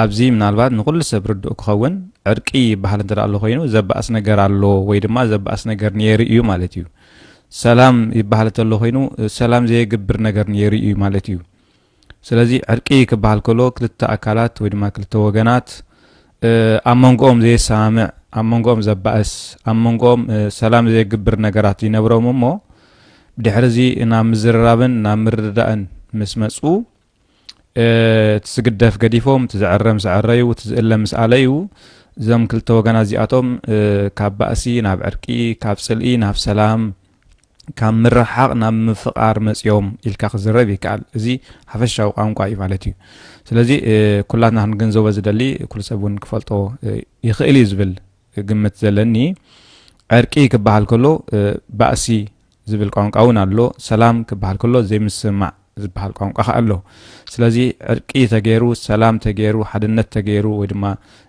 ኣብዚ ምናልባት ንኹሉ ሰብ ርዱእ ክኸውን ዕርቂ ይበሃል እንተ ኣሎ ኮይኑ ዘባእስ ነገር ኣሎ ወይ ድማ ዘባእስ ነገር ነይሩ እዩ ማለት እዩ። ሰላም ይበሃል እንተሎ ኮይኑ ሰላም ዘየግብር ነገር ነይሩ እዩ ማለት እዩ። ስለዚ ዕርቂ ክበሃል ከሎ ክልተ ኣካላት ወይ ድማ ክልተ ወገናት ኣብ መንጎኦም ዘየሰማምዕ ኣብ መንጎኦም ዘባእስ ኣብ መንጎኦም ሰላም ዘየግብር ነገራት ይነብሮም እሞ ድሕሪ እዚ ናብ ምዝርራብን ናብ ምርድዳእን ምስ መፁ እቲ ዝግደፍ ገዲፎም እቲ ዝዕረ ምስ ዕረዩ እቲ ዝእለ ምስ ኣለዩ እዞም ክልተ ወገናት እዚኣቶም ካብ ባእሲ ናብ ዕርቂ ካብ ፅልኢ ናብ ሰላም ካብ ምርሓቕ ናብ ምፍቓር መፅኦም ኢልካ ክዝረብ ይከኣል እዚ ሓፈሻዊ ቋንቋ እዩ ማለት እዩ ስለዚ ኩላትና ክንግንዘቦ ዝደሊ ኩሉ ሰብ እውን ክፈልጦ ይኽእል እዩ ዝብል ግምት ዘለኒ ዕርቂ ክበሃል ከሎ ባእሲ ዝብል ቋንቋ እውን ኣሎ። ሰላም ክበሃል ከሎ ዘይምስምማዕ ዝበሃል ቋንቋ ከኣ ኣሎ። ስለዚ ዕርቂ ተገይሩ፣ ሰላም ተገይሩ፣ ሓድነት ተገይሩ ወይ ድማ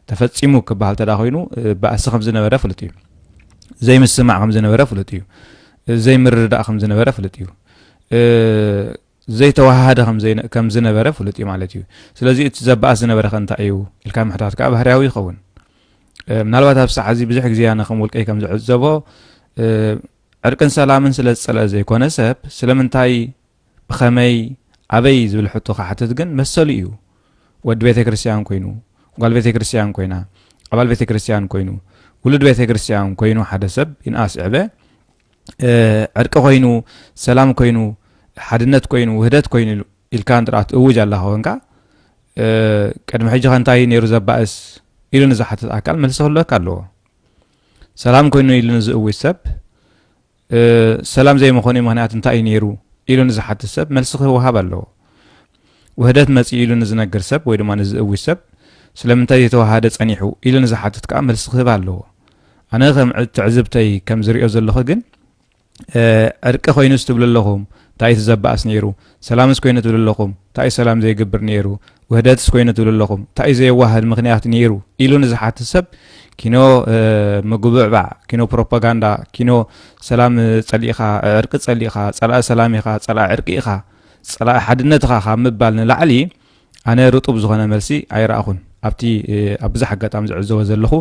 ተፈጺሙ ክበሃል እንተ ኮይኑ ባእሲ ከም ዝነበረ ፍሉጥ እዩ። ዘይምስምማዕ ከም ዝነበረ ፍሉጥ እዩ። ዘይምርድዳእ ከም ዝነበረ ፍሉጥ እዩ። ዘይተወሃሃደ ከም ዝነበረ ፍሉጥ እዩ ማለት እዩ። ስለዚ እቲ ዘባእስ ዝነበረ ከ እንታይ እዩ ኢልካ ምሕታት ከኣ ባህርያዊ ይኸውን። ምናልባት ኣብ ሰዓት እዚ ብዙሕ ግዜ ኣነ ከም ውልቀይ ከም ዝዕዘቦ ዕርቅን ሰላምን ስለ ዝጸልኣ ዘይኮነ ሰብ ስለምንታይ ብኸመይ ኣበይ ዝብል ሕቶ ክሓትት ግን መሰሉ እዩ ወዲ ቤተ ክርስትያን ኮይኑ ጓል ቤተ ክርስትያን ኮይና ኣባል ቤተ ክርስትያን ኮይኑ ውሉድ ቤተ ክርስትያን ኮይኑ ሓደ ሰብ ይንኣስ ዕበ ዕርቂ ኮይኑ ሰላም ኮይኑ ሓድነት ኮይኑ ውህደት ኮይኑ ኢልካ እንድኣ ትእውጅ ኣለኻ ኮንካ ቅድሚ ሕጂ ከ እንታይ ነይሩ ዘባእስ ኢሉ ንዝሓትት ኣካል መልሲ ክህልወካ ኣለዎ ሰላም ኮይኑ ኢሉ ንዝእውጅ ሰብ ሰላም ዘይምኾኑይ ምኽንያት እንታይ እዩ ነይሩ ኢሉ ንዝሓትት ሰብ መልሲ ክወሃብ ኣለዎ። ውህደት መፂኡ ኢሉ ንዝነግር ሰብ ወይ ድማ ንዝእውጅ ሰብ ስለምንታይ ዘይተዋሃደ ፀኒሑ ኢሉ ንዝሓትት ከዓ መልሲ ክህብ ኣለዎ። ኣነ ከም ትዕዝብተይ ከም ዝሪኦ ዘለኹ ግን ዕርቂ ኮይኑ ስትብሉ ኣለኹም እንታይ እዩ ዘባእስ ነይሩ ሰላምስ ኮይኑ ትብሉ ኣለኹም እንታይ እዩ ሰላም ዘይግብር ነይሩ ውህደትስ ኮይኑ ትብሉ ኣለኹም እንታይ እዩ ዘየዋህድ ምክንያት ነይሩ ኢሉ ንዝሓትት ሰብ ኪኖ ምጉብዕባዕ ኪኖ ፕሮፓጋንዳ ኪኖ ሰላም ፀሊእኻ ዕርቂ ፀሊእኻ ፀላኢ ሰላም ኢኻ ፀላኢ ዕርቂ ኢኻ ፀላኢ ሓድነት ኢኻ ካብ ምባል ንላዕሊ ኣነ ርጡብ ዝኾነ መልሲ ኣይረኣኹን። ኣብቲ ኣብ ብዙሕ ኣጋጣሚ ዝዕዘቦ ዘለኹ፣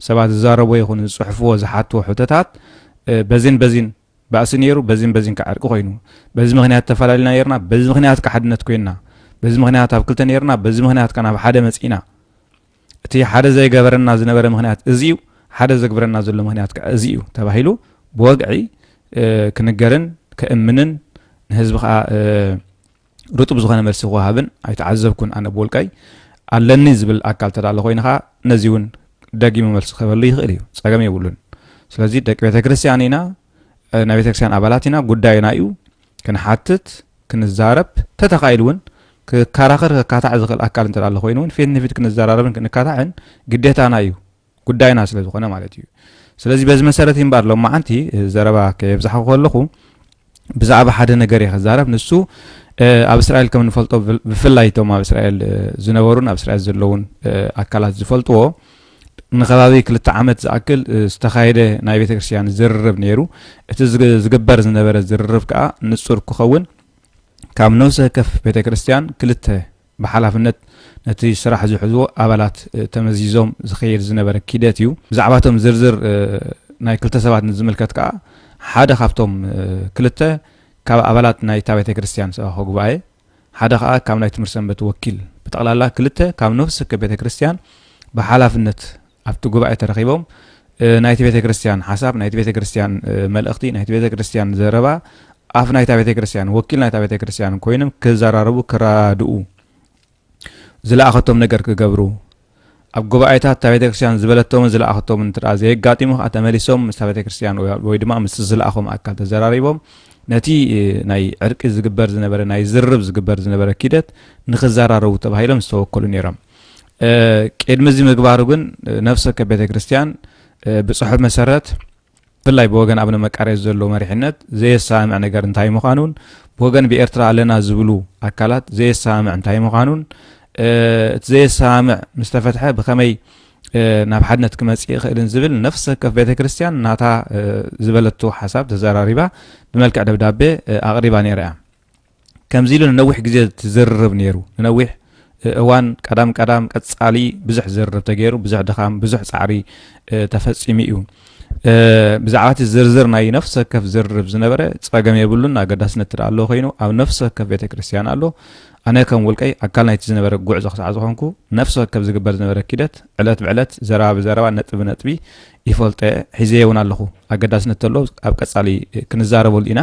ሰባት ዝዛረብዎ ይኹን ዝጽሕፍዎ ዝሓትዎ ሕቶታት በዚን በዚን ባእሲ ነይሩ፣ በዚን በዚን ከኣ ዕርቂ ኮይኑ፣ በዚ ምኽንያት ተፈላሊና ነይርና፣ በዚ ምኽንያት ከኣ ሓድነት ኮይንና፣ በዚ ምኽንያት ኣብ ክልተ ነይርና፣ በዚ ምኽንያት ከኣ ናብ ሓደ መጺእና። እቲ ሓደ ዘይገበረና ዝነበረ ምኽንያት እዚ እዩ፣ ሓደ ዘግብረና ዘሎ ምኽንያት ከኣ እዚ እዩ ተባሂሉ ብወግዒ ክንገርን ከእምንን ንህዝቢ ከኣ ርጡብ ዝኾነ መልሲ ክወሃብን ኣይተዓዘብኩን ኣነ ብውልቀይ ኣለኒ ዝብል ኣካል ተዳሎ ኮይኑ ከዓ ነዚ እውን ደጊሙ መልሲ ክህበሉ ይኽእል እዩ ፀገም የብሉን ስለዚ ደቂ ቤተ ክርስቲያን ኢና ናይ ቤተ ክርስቲያን ኣባላት ኢና ጉዳይና እዩ ክንሓትት ክንዛረብ ተተኻኢሉ እውን ክከራኸር ከካታዕ ዝኽእል ኣካል እንተዳሎ ኮይኑ እውን ፊት ንፊት ክንዘራረብን ክንካታዕን ግዴታና እዩ ጉዳይና ስለ ዝኾነ ማለት እዩ ስለዚ በዚ መሰረት እምበር ሎማዓንቲ ዘረባ ከየብዛሕኹ ከለኹ ብዛዕባ ሓደ ነገር እየ ክዛረብ ንሱ ኣብ እስራኤል ከም ንፈልጦ ብፍላይ እቶም ኣብ እስራኤል ዝነበሩን ኣብ እስራኤል ዘለውን ኣካላት ዝፈልጥዎ ንከባቢ ክልተ ዓመት ዝኣክል ዝተኻየደ ናይ ቤተ ክርስትያን ዝርርብ ነይሩ እቲ ዝግበር ዝነበረ ዝርርብ ከዓ ንፁር ክኸውን ካብ ነብሲ ወከፍ ቤተ ክርስትያን ክልተ ብሓላፍነት ነቲ ስራሕ ዝሕዙ ኣባላት ተመዚዞም ዝኸየድ ዝነበረ ኪደት እዩ። ብዛዕባ እቶም ዝርዝር ናይ ክልተ ሰባት ንዝምልከት ከኣ ሓደ ካብቶም ክልተ ካብ ኣባላት ናይታ ቤተ ክርስቲያን ሰባኺ ጉባኤ ሓደ ከኣ ካብ ናይ ትምህርት ሰንበት ወኪል ብጠቕላላ ክልተ ካብ ነፍሲ ወከፍ ቤተ ክርስቲያን ብሓላፍነት ኣብቲ ጉባኤ ተረኺቦም ናይቲ ቤተ ክርስቲያን ሓሳብ፣ ናይቲ ቤተ ክርስቲያን መልእኽቲ፣ ናይቲ ቤተ ክርስቲያን ዘረባ ኣፍ ናይታ ቤተ ክርስቲያን ወኪል ናይታ ቤተ ክርስቲያን ኮይኖም ክዘራረቡ ክረዳድኡ ዝለኣኸቶም ነገር ክገብሩ ኣብ ጉባኤታት እታ ቤተክርስትያን ዝበለቶምን ዝለኣኸቶምን እንተ ዘየጋጢሙ ከዓ ተመሊሶም ምስታ ቤተክርስትያን ወይ ድማ ምስ ዝለኣኹም ኣካል ተዘራሪቦም ነቲ ናይ ዕርቂ ዝግበር ዝነበረ ናይ ዝርርብ ዝግበር ዝነበረ ኪደት ንክዘራረቡ ተባሂሎም ዝተወከሉ ነይሮም ቅድሚ እዚ ምግባሩ ግን ነፍሲ ወከፍ ቤተ ክርስቲያን ብፅሑፍ መሰረት ብፍላይ ብወገን ኣብነ መቃርየት ዘሎ መሪሕነት ዘየሰማምዕ ነገር እንታይ ምዃኑን ብወገን ብኤርትራ ኣለና ዝብሉ ኣካላት ዘየሰማምዕ እንታይ ምዃኑን እቲ ዘየሰማምዕ ምስ ተፈትሐ ብኸመይ ናብ ሓድነት ክመፅእ ይኽእልን ዝብል ነፍሲ ወከፍ ቤተ ክርስቲያን ናታ ዝበለቶ ሓሳብ ተዘራሪባ ብመልክዕ ደብዳቤ ኣቕሪባ ነይራ እያ ከምዚ ኢሉ ንነዊሕ ግዜ ዝርርብ ነይሩ ንነዊሕ እዋን ቀዳም ቀዳም ቀጻሊ ብዙሕ ዝርርብ ተገይሩ ብዙሕ ድኻም ብዙሕ ጻዕሪ ተፈጺሙ እዩ ብዛዕባ እቲ ዝርዝር ናይ ነፍሲ ወከፍ ዝርርብ ዝነበረ ፀገም የብሉን ኣገዳስነት ትደኣ ኣለዎ ኮይኑ ኣብ ነፍሲ ወከፍ ቤተ ክርስትያን ኣሎ ኣነ ከም ውልቀይ ኣካል ናይቲ ዝነበረ ጉዕዞ ክሳዕ ዝኾንኩ ነፍሲ ወከፍ ዝግበር ዝነበረ ኪደት ዕለት ብዕለት ዘረባ ብዘረባ ነጥቢ ነጥቢ ይፈልጠ ሒዘየ እውን ኣለኹ ኣገዳስነት ተሎ ኣብ ቀፃሊ ክንዛረበሉ ኢና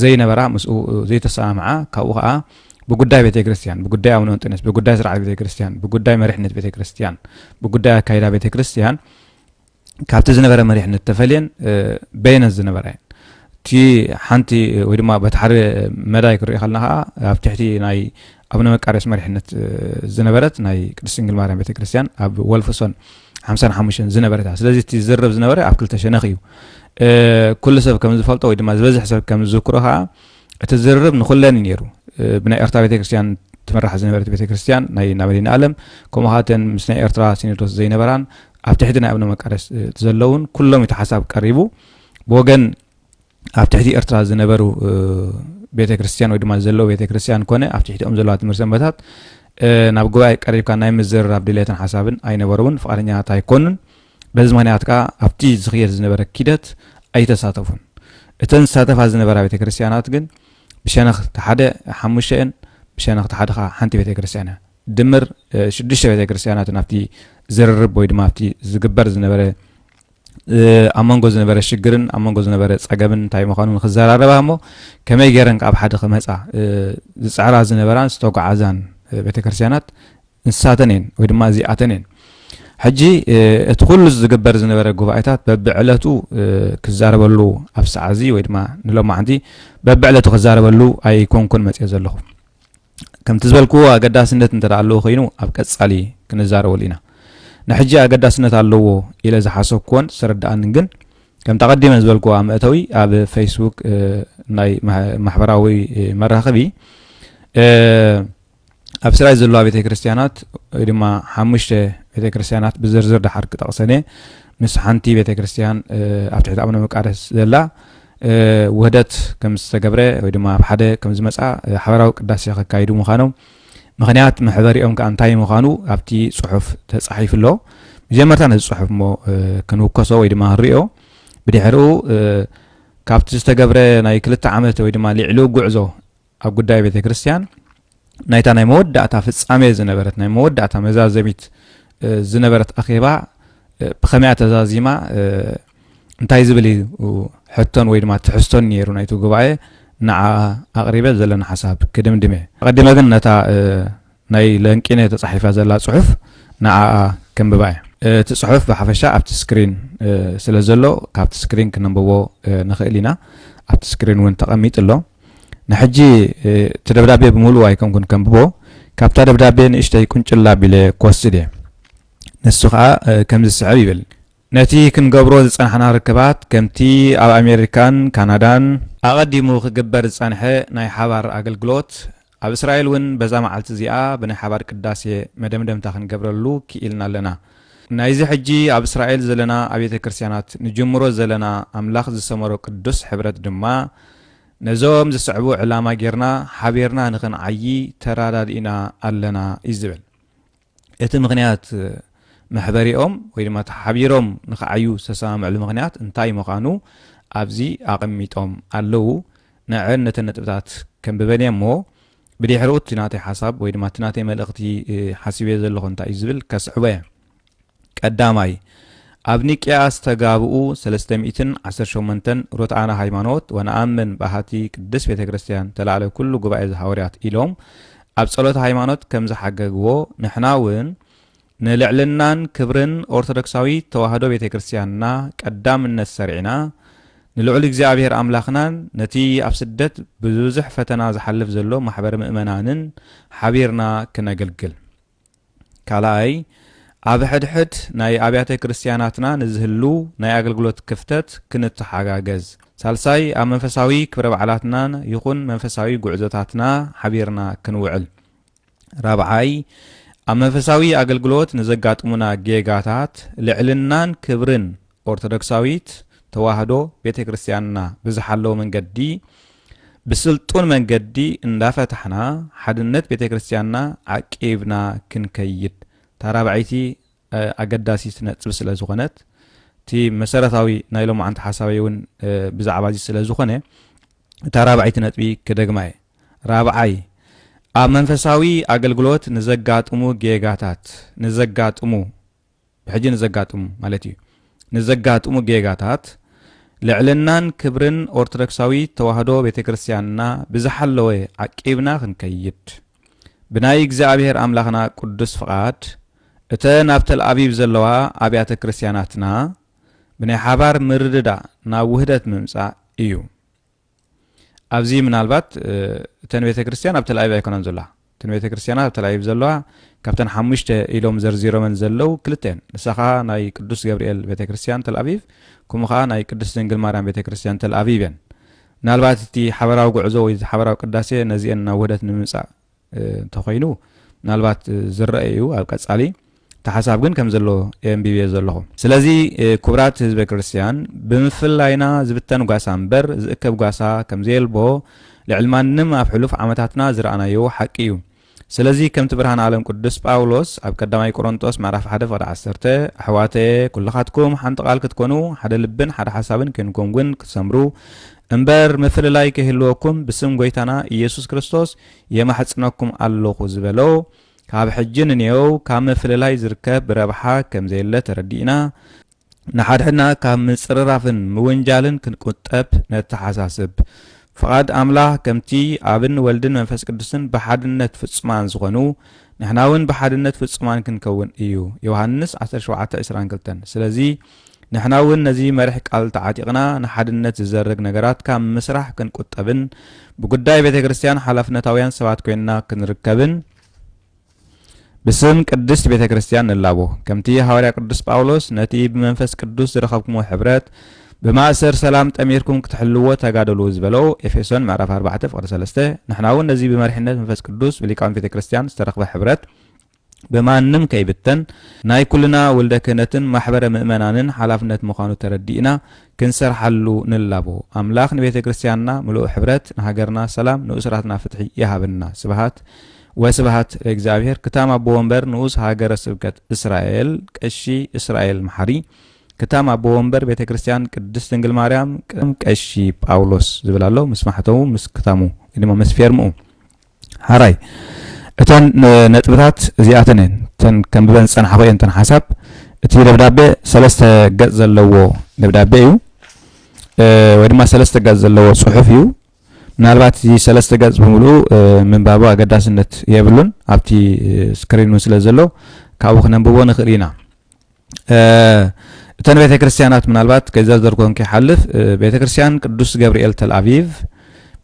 ዘይነበራ ምስኡ ዘይተሰማምዓ ካብኡ ከኣ ብጉዳይ ቤተ ክርስቲያን ብጉዳይ ኣቡነ እንጦንዮስ ብጉዳይ ስርዓት ቤተ ክርስቲያን ብጉዳይ መሪሕነት ቤተ ክርስቲያን ብጉዳይ ኣካይዳ ቤተ ክርስቲያን ካብቲ ዝነበረ መሪሕነት ተፈልየን በየነት ዝነበራ እየን እቲ ሓንቲ ወይ ድማ በቲ ሓደ መዳይ ክሪኦ ከለና ከዓ ኣብ ትሕቲ ናይ ኣቡነ መቃርዮስ መሪሕነት ዝነበረት ናይ ቅድስት ድንግል ማርያም ቤተ ክርስቲያን ኣብ ወልፍሶን ሓምሳን ሓሙሽተን ዝነበረት እያ ስለዚ እቲ ዝርብ ዝነበረ ኣብ ክልተ ሸነኽ እዩ ኩሉ ሰብ ከም ዝፈልጦ ወይ ድማ ዝበዝሕ ሰብ ከም ዝዝክሮ ከዓ እቲ ዝርርብ ንኩለን እዩ ነይሩ ብናይ ኤርትራ ቤተክርስትያን ትመራሕ ዝነበረት ቤተክርስትያን ናይ ናብ መዲና ኣለም ከምኡ ከዓ እተን ምስ ናይ ኤርትራ ሲኖዶስ ዘይነበራን ኣብ ትሕቲ ናይ ኣብነ መቃደስ ዘለውን ኩሎም እቲ ሓሳብ ቀሪቡ ብወገን ኣብ ትሕቲ ኤርትራ ዝነበሩ ቤተ ክርስትያን ወይ ድማ ዘለዎ ቤተ ክርስትያን ኮነ ኣብ ትሕቲኦም ዘለዋ ትምህርቲ ሰንበታት ናብ ጉባኤ ቀሪብካ ናይ ምዝርራብ ድሌትን ሓሳብን ኣይነበረውን ፍቃደኛታት ኣይኮኑን በዚ ምክንያት ከዓ ኣብቲ ዝኽየድ ዝነበረ ኪደት ኣይተሳተፉን እተን ዝሳተፋ ዝነበራ ቤተ ክርስትያናት ግን ብሸነኽ ሓደ ሓሙሽተ እየን ብሸነኽ ሓደ ከዓ ሓንቲ ቤተ ክርስትያን እያ ድምር ሽዱሽተ ቤተ ክርስትያናት ናብቲ ዝርርብ ወይ ድማ ኣብቲ ዝግበር ዝነበረ ኣብ መንጎ ዝነበረ ሽግርን ኣብ መንጎ ዝነበረ ፀገምን እንታይ ምዃኑ ንክዘራረባ እሞ ከመይ ገይረን ካብ ሓደ ክመፃ ዝፅዕራ ዝነበራን ዝተጓዓዛን ቤተክርስትያናት ንሳተን እየን ወይ ድማ እዚኣተን እየን ሕጂ እቲ ኩሉ ዝግበር ዝነበረ ጉባኤታት በብዕለቱ ክዛረበሉ ኣብ ሰዓዚ ወይ ድማ ንሎማዕንቲ በብዕለቱ ክዛረበሉ ኣይኮንኩን መፅኦ ዘለኹ ከምቲ ዝበልክዎ ኣገዳስነት እንተ ኣለዎ ኮይኑ ኣብ ቀጻሊ ክንዛረበሉ ኢና። ንሕጂ ኣገዳስነት ኣለዎ ኢለ ዝሓሰብክዎን ዝተረድኣንን ግን ከምቲ ኣቐዲመ ዝበልክዎ ኣብ መእተዊ ኣብ ፌስቡክ ናይ ማሕበራዊ መራኸቢ ኣብ ስራይ ዘለዋ ቤተ ክርስትያናት ወይ ድማ ሓሙሽተ ቤተ ክርስትያናት ብዝርዝር ድሓር ክጠቕሰን እየ ምስ ሓንቲ ቤተ ክርስትያን ኣብ ትሕቲ ኣቡነ መቃደስ ዘላ ውህደት ከም ዝተገብረ ወይ ድማ ኣብ ሓደ ከም ዝመጽኣ ሓበራዊ ቅዳሴ ከካይዱ ምዃኖም ምክንያት መሕበሪኦም ከዓ እንታይ ምዃኑ ኣብቲ ጽሑፍ ተጻሒፉ ኣሎ ብጀመርታ ነዚ ጽሑፍ እሞ ክንውከሶ ወይ ድማ ክንሪኦ ብድሕሪኡ ካብቲ ዝተገብረ ናይ ክልተ ዓመት ወይ ድማ ሊዕሉ ጉዕዞ ኣብ ጉዳይ ቤተ ክርስቲያን ናይታ ናይ መወዳእታ ፍጻሜ ዝነበረት ናይ መወዳእታ መዛዘሚት ዝነበረት ኣኼባ ብኸመያ ተዛዚማ እንታይ ዝብል እዩ ሕቶን ወይ ድማ ትሕዝቶን ነይሩ ናይቲ ጉባኤ ንዓ ኣቕሪበ ዘለና ሓሳብ ክድምድም እየ ኣቐዲመ ግን ነታ ናይ ለንቂነ ተጻሒፋ ዘላ ጽሑፍ ንዓኣ ከንብባ እየ። እቲ ጽሑፍ ብሓፈሻ ኣብቲ ስክሪን ስለ ዘሎ ካብቲ ስክሪን ክነንብቦ ንኽእል ኢና። ኣብቲ ስክሪን እውን ተቐሚጡ ኣሎ። ንሕጂ እቲ ደብዳቤ ብምሉኡ ኣይኮንኩን ከንብቦ፣ ካብታ ደብዳቤ ንእሽተይ ቁንጭል ኣቢለ ክወስድ እየ። ንሱ ከኣ ከምዚ ዝስዕብ ይብል። ነቲ ክንገብሮ ዝጸናሕና ርክባት ከምቲ ኣብ ኣሜሪካን ካናዳን፣ ኣቐዲሙ ክግበር ዝጸንሐ ናይ ሓባር ኣገልግሎት ኣብ እስራኤል እውን በዛ መዓልቲ እዚኣ ብናይ ሓባር ቅዳሴ መደምደምታ ክንገብረሉ ክኢልና ኣለና። ናይዚ ሕጂ ኣብ እስራኤል ዘለና ኣብየተ ክርስቲያናት ንጅምሮ ዘለና ኣምላኽ ዝሰመሮ ቅዱስ ሕብረት ድማ ነዞም ዝስዕቡ ዕላማ ጌርና ሓቢርና ንኽንዓዪ ተራዳዲእና ኣለና እዩ ዝብል። እቲ ምኽንያት መሕበሪኦም ወይ ድማ እቲ ሓቢሮም ንኽዓዩ ዝተሰማምዕሉ ምኽንያት እንታይ ምዃኑ ኣብዚ ኣቐሚጦም ኣለዉ። ንዐን ነተን ነጥብታት ከንብበን እየ እሞ ብድሕረኡ እቲ ናተይ ሓሳብ ወይ ድማ እቲ ናተይ መልእኽቲ ሓሲበዮ ዘለኹ እንታይ እዩ ዝብል ከስዕቦ እየ። ቀዳማይ፣ ኣብ ኒቅያ ዝተጋብኡ ሰለስተ ሚእትን ዓሰርተ ሸሞንተን ርቱዓነ ሃይማኖት ወነኣምን በሃቲ ቅድስት ቤተ ክርስቲያን ተላዕለ ኩሉ ጉባኤ ዘሃወርያት ኢሎም ኣብ ጸሎተ ሃይማኖት ከም ዝሓገግዎ ንሕና እውን ንልዕልናን ክብርን ኦርቶዶክሳዊት ተዋህዶ ቤተ ክርስቲያንና ቀዳምነት ሰርዒና ንልዑል እግዚኣብሔር ኣምላኽናን ነቲ ኣብ ስደት ብብዙሕ ፈተና ዝሓልፍ ዘሎ ማሕበረ ምእመናንን ሓቢርና ክነግልግል ካልኣይ፣ ኣብ ሕድሕድ ናይ ኣብያተ ክርስቲያናትና ንዝህሉ ናይ ኣገልግሎት ክፍተት ክንተሓጋገዝ። ሳልሳይ፣ ኣብ መንፈሳዊ ክብረ በዓላትና ይኹን መንፈሳዊ ጉዕዞታትና ሓቢርና ክንውዕል። ራብዓይ፣ ኣብ መንፈሳዊ ኣገልግሎት ንዘጋጥሙና ጌጋታት ልዕልናን ክብርን ኦርቶዶክሳዊት ተዋህዶ ቤተ ክርስቲያንና ብዝሓለወ መንገዲ ብስልጡን መንገዲ እንዳፈታሕና ሓድነት ቤተ ክርስቲያንና ዓቂብና ክንከይድ እታ ራብዐይቲ ኣገዳሲት ነጥቢ ስለ ዝኾነት እቲ መሰረታዊ ናይ ሎማዓንቲ ሓሳበይ እውን ብዛዕባ እዚ ስለ ዝኾነ እታ ራብዐይቲ ነጥቢ ክደግማ እየ ራብዓይ ኣብ መንፈሳዊ ኣገልግሎት ንዘጋጥሙ ጌጋታት ንዘጋጥሙ ብሕጂ ንዘጋጥሙ ማለት እዩ ንዘጋጥሙ ጌጋታት ልዕልናን ክብርን ኦርቶዶክሳዊት ተዋህዶ ቤተ ክርስቲያንና ብዝሓለወ ዓቂብና ክንከይድ ብናይ እግዚኣብሔር ኣምላኽና ቅዱስ ፍቓድ እተን ኣብ ተልኣቪቭ ዘለዋ ኣብያተ ክርስቲያናትና ብናይ ሓባር ምርድዳእ ናብ ውህደት ምምጻእ እዩ። ኣብዚ ምናልባት እተን ቤተ ክርስቲያን ኣብ ተልኣቪቭ ኣይኮናን ዘለዋ እተን ቤተ ክርስቲያናት ኣብ ተልኣቪቭ ዘለዋ ካብተን ሓሙሽተ ኢሎም ዘርዚሮመን ዘለው ክልተ እየን ንሳ ከዓ ናይ ቅዱስ ገብርኤል ቤተ ክርስቲያን ተልኣቪቭ ከምኡ ከዓ ናይ ቅዱስ ድንግል ማርያም ቤተ ክርስቲያን ተልኣቪቭ እየን ምናልባት እቲ ሓበራዊ ጉዕዞ ወይ ሓበራዊ ቅዳሴ ነዚአን ናብ ውህደት ንምምፃእ እንተኾይኑ ምናልባት ዝረአ እዩ ኣብ ቀጻሊ እቲ ሓሳብ ግን ከም ዘሎ የንቢብዮ ዘለኹ ስለዚ ክቡራት ህዝበ ክርስትያን ብምፍላይና ዝብተን ጓሳ እምበር ዝእከብ ጓሳ ከም ዘየልቦ ልዕሊ ማንም ኣብ ሕሉፍ ዓመታትና ዝረኣናዮ ሓቂ እዩ ስለዚ ከምቲ ብርሃን ዓለም ቅዱስ ጳውሎስ ኣብ ቀዳማይ ቆሮንጦስ ምዕራፍ 1 ፍቕዲ 10 ኣሕዋተየ ኩልኻትኩም ሓንቲ ቓል ክትኮኑ ሓደ ልብን ሓደ ሓሳብን ኬንኩም እውን ክትሰምሩ እምበር ምፍልላይ ከይህልወኩም ብስም ጐይታና ኢየሱስ ክርስቶስ የማሕጽነኩም ኣሎኹ ዝበሎ፣ ካብ ሕጂ ንንየው ካብ ምፍልላይ ዝርከብ ረብሓ ከም ዘየለ ተረዲእና፣ ንሓድሕድና ካብ ምጽርራፍን ምውንጃልን ክንቁጠብ ነተሓሳስብ። ፍቓድ ኣምላኽ ከምቲ ኣብን ወልድን መንፈስ ቅዱስን ብሓድነት ፍጹማን ዝኾኑ፣ ንሕናውን ብሓድነት ፍጹማን ክንከውን እዩ፣ ዮሃንስ ዓሰርተ ሸውዓተ ዕስራን ክልተን። ስለዚ፣ ንሕና እውን ነዚ መሪሕ ቃል ተዓጢቕና ንሓድነት ዝዘርግ ነገራት ካብ ምስራሕ ክንቁጠብን ብጉዳይ ቤተ ክርስቲያን ሓላፍነታውያን ሰባት ኮይንና ክንርከብን ብስም ቅድስት ቤተ ክርስቲያን ንላቦ። ከምቲ ሃዋርያ ቅዱስ ጳውሎስ ነቲ ብመንፈስ ቅዱስ ዝረኸብኩሞ ሕብረት ብማእሰር ሰላም ጠሚርኩም ክትሕልዎ ተጋደሉ ዝበሎ ኤፌሶን ምዕራፍ 4 ፍቕዲ 3 ንሕና እውን ነዚ ብመሪሕነት መንፈስ ቅዱስ ብሊቃውንት ቤተ ክርስቲያን ዝተረኽበ ሕብረት ብማንም ከይብተን ናይ ኩልና ውልደ ክህነትን ማሕበረ ምእመናንን ሓላፍነት ምዃኑ ተረዲእና ክንሰርሓሉ ንላቦ። ኣምላኽ ንቤተ ክርስቲያንና ምሉእ ሕብረት፣ ንሃገርና ሰላም፣ ንእሱራትና ፍትሒ ይሃበና። ስብሃት ወስብሃት ለእግዚኣብሔር ክታም ኣቦ ወንበር ንኡስ ሃገረ ስብከት እስራኤል ቀሺ እስራኤል መሓሪ ክታም ኣቦ ወንበር ቤተ ክርስቲያን ቅድስት ድንግል ማርያም ቀሺ ጳውሎስ ዝብል ኣሎ ምስ ማሕተሙ ምስ ክታሙ ድማ ምስ ፌርምኡ ሐራይ እተን ነጥብታት እዚኣተን እየን እተን ከንብበን ዝጸናሕኹ እየን እተን ሓሳብ እቲ ደብዳቤ ሰለስተ ገጽ ዘለዎ ደብዳቤ እዩ ወይ ድማ ሰለስተ ገጽ ዘለዎ ጽሑፍ እዩ ምናልባት እዚ ሰለስተ ገጽ ብምልኡ ምንባቡ ኣገዳስነት የብሉን ኣብቲ ስክሪን እውን ስለ ዘሎ ካብኡ ክነንብቦ ንኽእል ኢና እተን ቤተ ክርስቲያናት ምናልባት ከይዘርዘርኩን ከይሓልፍ ቤተ ክርስቲያን ቅዱስ ገብርኤል ተልኣቪቭ፣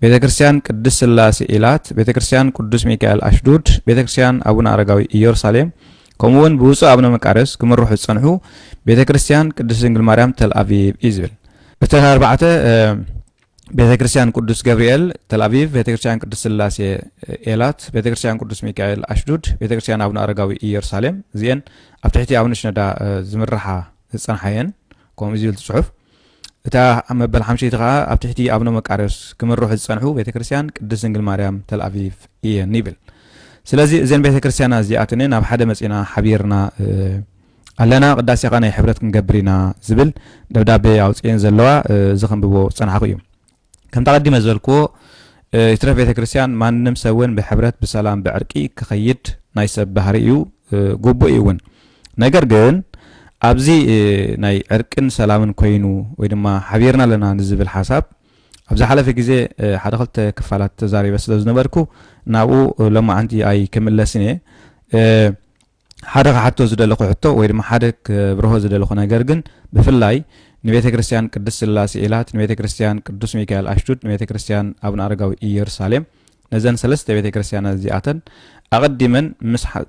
ቤተ ክርስቲያን ቅዱስ ስላሴ ኢላት፣ ቤተ ክርስቲያን ቅዱስ ሚካኤል ኣሽዱድ፣ ቤተ ክርስቲያን ኣቡነ ኣረጋዊ ኢየሩሳሌም ከምኡ እውን ብውፁእ ኣቡነ መቃርዮስ ክምርሑ ዝፀንሑ ቤተ ክርስቲያን ቅዱስ ድንግል ማርያም ተልኣቪቭ እዩ ዝብል እተን ኣርባዕተ ቤተክርስትያን ቅዱስ ገብርኤል ተልኣቪቭ፣ ቤተክርስትያን ቅድስት ስላሴ ኤላት፣ ቤተክርስትያን ቅዱስ ሚካኤል ኣሽዱድ፣ ቤተክርስትያን ኣቡነ ኣረጋዊ ኢየሩሳሌም እዚኤን ኣብ ትሕቲ ኣቡነ ሽነዳ ዝምርሓ ዝጸንሓ እየን ከምኡ ዝብል ጽሑፍ እታ መበል ሓምሸይቲ ከዓ ኣብ ትሕቲ ኣብነ መቃርዮስ ክምርሑ ዝፀንሑ ቤተ ክርስቲያን ቅድስት ድንግል ማርያም ተልኣቪቭ እየን ይብል ስለዚ እዘን ቤተ ክርስቲያና እዚኣተን ናብ ሓደ መፂና ሓቢርና ኣለና ቅዳሴ ከኣ ናይ ሕብረት ክንገብር ኢና ዝብል ደብዳቤ ኣውፅኤን ዘለዋ እዚ ከንብቦ ዝፀናሕኩ እዩ ከምቲ ኣቐዲመ ዝበልክዎ ይትረፍ ቤተ ክርስቲያን ማንም ሰብ እውን ብሕብረት ብሰላም ብዕርቂ ክኸይድ ናይ ሰብ ባህሪ እዩ ግቡእ እዩ እውን ነገር ግን ኣብዚ ናይ ዕርቅን ሰላምን ኮይኑ ወይ ድማ ሓቢርና ኣለና ንዝብል ሓሳብ ኣብ ዝሓለፈ ግዜ ሓደ ክልተ ክፋላት ተዛሪበ ስለ ዝነበርኩ ናብኡ ሎማዓንቲ ኣይክምለስን እየ ሓደ ክሓቶ ዝደለኹ ሕቶ ወይ ድማ ሓደ ክብርሆ ዝደለኹ ነገር ግን ብፍላይ ንቤተ ክርስቲያን ቅድስት ስላሴ ኢላት፣ ንቤተ ክርስቲያን ቅዱስ ሚካኤል ኣሽቱድ፣ ንቤተ ክርስቲያን ኣቡነ ኣረጋዊ ኢየሩሳሌም ነዘን ሰለስተ ቤተ ክርስቲያናት እዚኣተን ኣቐዲመን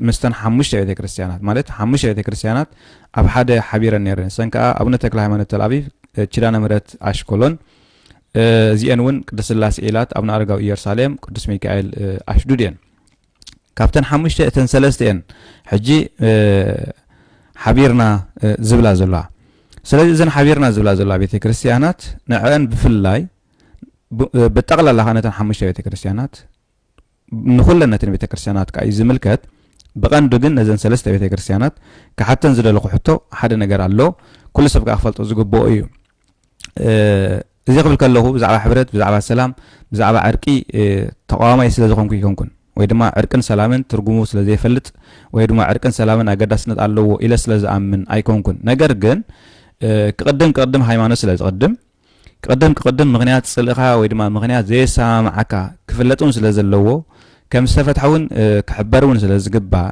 ምስተን ሓሙሽተ ቤተ ክርስቲያናት ማለት ሓሙሽተ ቤተ ክርስቲያናት ኣብ ሓደ ሓቢረን ነይረን እሰን ከዓ ኣቡነ ተክለ ሃይማኖት ተልኣቢብ ኪዳነ ምሕረት ኣሽኮሎን እዚአን እውን ቅዱስ ስላሴ ኢላት ኣቡነ ኣረጋዊ ኢየሩሳሌም ቅዱስ ሚካኤል ኣሽዱድ እየን ካብተን ሓሙሽተ እተን ሰለስተ እየን ሕጂ ሓቢርና ዝብላ ዘለዋ ስለዚ እዘን ሓቢርና ዝብላ ዘለዋ ቤተ ክርስትያናት ንዕአን ብፍላይ ብጠቕላላ ከዓ ነተን ሓሙሽተ ቤተ ክርስትያናት ንኩለን ነተን ቤተ ክርስትያናት ከዓ እዩ ዝምልከት ብቐንዱ ግን ነዘን ሰለስተ ቤተ ክርስትያናት ክሓተን ዝደለኹ ሕቶ ሓደ ነገር ኣሎ ኩሉ ሰብ ከዓ ክፈልጦ ዝግብኦ እዩ እዚ ክብል ከለኹ ብዛዕባ ሕብረት ብዛዕባ ሰላም ብዛዕባ ዕርቂ ተቃዋማይ ስለ ዝኾንኩ ይኮንኩን ወይ ድማ ዕርቅን ሰላምን ትርጉሙ ስለ ዘይፈልጥ ወይ ድማ ዕርቅን ሰላምን ኣገዳስነት ኣለዎ ኢለ ስለ ዝኣምን ኣይኮንኩን ነገር ግን ክቕድም ክቕድም ሃይማኖት ስለ ዝቕድም ክቕድም ክቕድም ምክንያት ጽልእኻ ወይ ድማ ምክንያት ዘየሰማምዓካ ክፍለጥ እውን ስለ ዘለዎ ከም ዝተፈትሐ እውን ክሕበር እውን ስለ ዝግባእ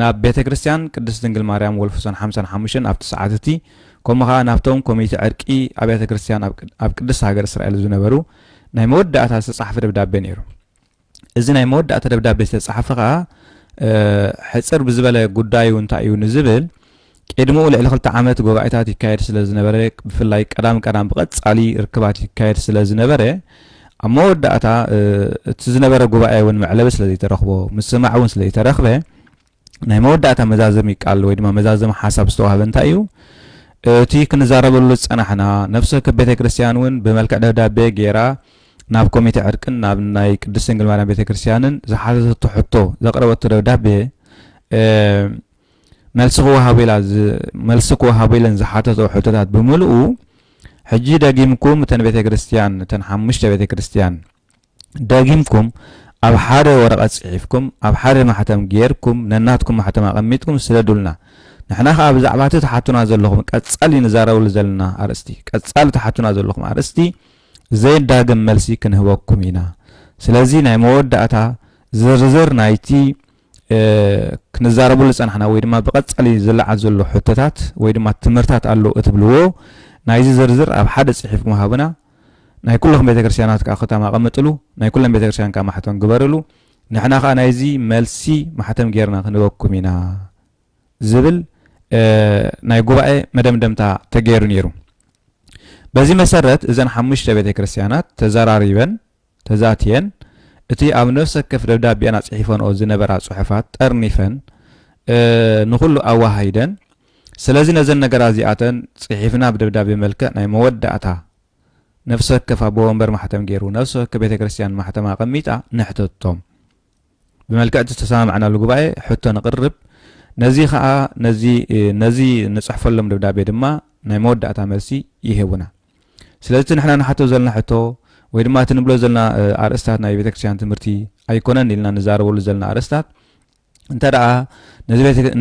ናብ ቤተ ክርስቲያን ቅድስት ድንግል ማርያም ወልፍሶን ሓምሳን ሓሙሽተን ኣብቲ ሰዓት እቲ ከምኡ ከኣ ናብቶም ኮሚቴ ዕርቂ ኣብያተ ክርስቲያን ኣብ ቅድስት ሃገር እስራኤል ዝነበሩ ናይ መወዳእታ ዝተጻሕፈ ደብዳቤ ነይሩ እዚ ናይ መወዳእታ ደብዳቤ ዝተጻሕፈ ከኣ ሕጽር ብዝበለ ጉዳዩ እንታይ እዩ ንዝብል ቄድምኡ ልዕሊ ክልተ ዓመት ጉባኤታት ይካየድ ስለ ዝነበረ ብፍላይ ቀዳም ቀዳም ብቐጻሊ ርክባት ይካየድ ስለ ዝነበረ ኣብ መወዳእታ እቲ ዝነበረ ጉባኤ እውን መዕለቢ ስለ ዘይተረኽቦ ምስማዕ እውን ስለ ዘይተረኽበ ናይ መወዳእታ መዛዘሚ ቃል ወይ ድማ መዛዘሚ ሓሳብ ዝተዋህበ እንታይ እዩ እቲ ክንዛረበሉ ዝጸናሕና ነፍሰ ወከፍ ቤተ ክርስቲያን እውን ብመልክዕ ደብዳቤ ገይራ ናብ ኮሚቴ ዕርቅን ናብ ናይ ቅድስት ድንግል ማርያም ቤተ ክርስቲያንን ዝሓዘተቶ ሕቶ ዘቕረበቶ ደብዳቤ መልሲ ክወሃቦ ኢለን ዝሓተትኦ ሕቶታት ብምልኡ ሕጂ ደጊምኩም እተን ቤተ ክርስቲያን እተን ሓሙሽተ ቤተ ክርስቲያን ደጊምኩም ኣብ ሓደ ወረቐት ጽሒፍኩም ኣብ ሓደ ማሕተም ጌርኩም ነናትኩም ማሕተም ኣቐሚጥኩም ስደዱልና ንሕና ከዓ ብዛዕባ እቲ ትሓቱና ዘለኹም ቀጻሊ ንዛረብሉ ዘለና ኣርእስቲ ቀጻሊ ትሓቱና ዘለኹም ኣርእስቲ ዘይዳግም መልሲ ክንህበኩም ኢና ስለዚ ናይ መወዳእታ ዝርዝር ናይቲ ክንዛረበሉ ዝጸናሕና ወይ ድማ ብቐጻሊ ዝለዓል ዘሎ ሕቶታት ወይ ድማ ትምህርታት ኣሎ እትብልዎ ናይዚ ዝርዝር ኣብ ሓደ ጽሒፍ ምሃብና ናይ ኩለኹም ቤተ ክርስቲያናት ከዓ ክታም ኣቐምጥሉ ናይ ኩለን ቤተ ክርስቲያን ከዓ ማሕተም ግበርሉ ንሕና ከዓ ናይዚ መልሲ ማሕተም ጌርና ክንበኩም ኢና ዝብል ናይ ጉባኤ መደምደምታ ተገይሩ ነይሩ በዚ መሰረት እዘን ሓሙሽተ ቤተ ክርስቲያናት ተዘራሪበን ተዛትየን፣ እቲ ኣብ ነፍሰከፍ ደብዳቤኣን ኣጽሒፈንኦ ዝነበራ ጽሑፋት ጠርኒፈን ንኹሉ ኣወሃሂደን፣ ስለዚ ነዘን ነገራት እዚኣተን ጽሒፍና ብደብዳቤ መልክዕ ናይ መወዳእታ ነፍሰወከፍ ኣቦ ወንበር ማሕተም ገይሩ፣ ነፍሰወከፍ ቤተክርስትያን ማሕተማ ኣቐሚጣ ንሕተቶም። ብመልክዕ እቲ ዝተሰማማዕናሉ ጉባኤ ሕቶ ነቕርብ። ነዚ ከኣ ነዚ ነዚ ንጽሕፈሎም ደብዳቤ ድማ ናይ መወዳእታ መልሲ ይህቡና። ስለዚ እቲ ንሕና ንሓቶ ዘለና ሕቶ ወይ ድማ እቲ ንብሎ ዘለና ኣርእስታት ናይ ቤተክርስትያን ትምህርቲ ኣይኮነን ኢልና ንዛረበሉ ዘለና ኣርእስታት እንተ ደኣ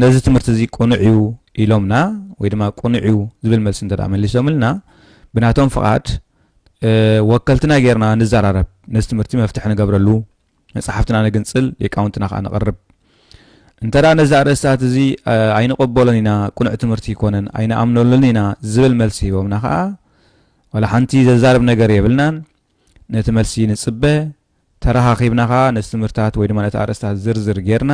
ነዚ ትምህርቲ እዚ ቅኑዕ እዩ ኢሎምና ወይ ድማ ቅኑዕ እዩ ዝብል መልሲ እንተ ደኣ መሊሶምልና ብናቶም ፍቓድ ወከልትና ጌርና ንዘራረብ ነዚ ትምህርቲ መፍትሒ ንገብረሉ መጻሕፍትና ነግንጽል ሊቃውንትና ከኣ ነቕርብ እንተ ነዚ ኣርእስታት እዚ ኣይንቕበሎን ኢና ቅኑዕ ትምህርቲ ይኮነን ኣይንኣምነሉን ኢና ዝብል መልሲ ሂቦምና ከኣ ዋላ ሓንቲ ዘዛርብ ነገር የብልናን ነቲ መልሲ ንጽበ ተረኻኺብና ከኣ ነቲ ትምህርታት ወይ ድማ ነቲ ኣርእስታት ዝርዝር ጌርና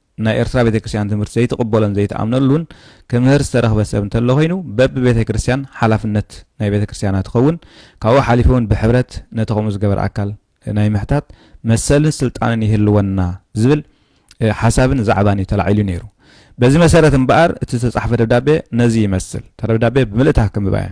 ናይ ኤርትራ ቤተክርስቲያን ትምህርቲ ዘይትቕበሎን ዘይትኣምነሉን ክምህር ዝተረኽበ ሰብ እንተሎ ኮይኑ በቢ ቤተክርስቲያን ሓላፍነት ናይ ቤተክርስቲያና ትኸውን ካብኡ ሓሊፉ ውን ብሕብረት ነቲ ከምኡ ዝገበር ኣካል ናይ ምሕታት መሰልን ስልጣንን ይህልወና ዝብል ሓሳብን ዛዕባን እዩ ተላዒሉ ነይሩ በዚ መሰረት እምበኣር እቲ ዝተጻሕፈ ደብዳቤ ነዚ ይመስል እታ ደብዳቤ ብምልእታ ከምብባ እየ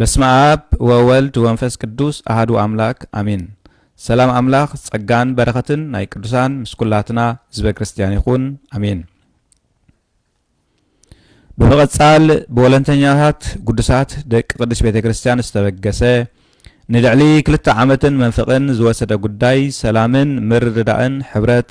በስመኣብ ወወልድ ወንፈስ ቅዱስ ኣሃዱ ኣምላክ ኣሜን ሰላም ኣምላክ ጸጋን በረከትን ናይ ቅዱሳን ምስ ኩላትና ህዝበ ክርስትያን ይኩን ኣሜን ብምቕጻል ብወለንተኛታት ጉዱሳት ደቂ ቅዱስ ቤተ ክርስትያን ዝተበገሰ ንልዕሊ ክልተ ዓመትን መንፍቕን ዝወሰደ ጉዳይ ሰላምን ምርድዳእን ሕብረት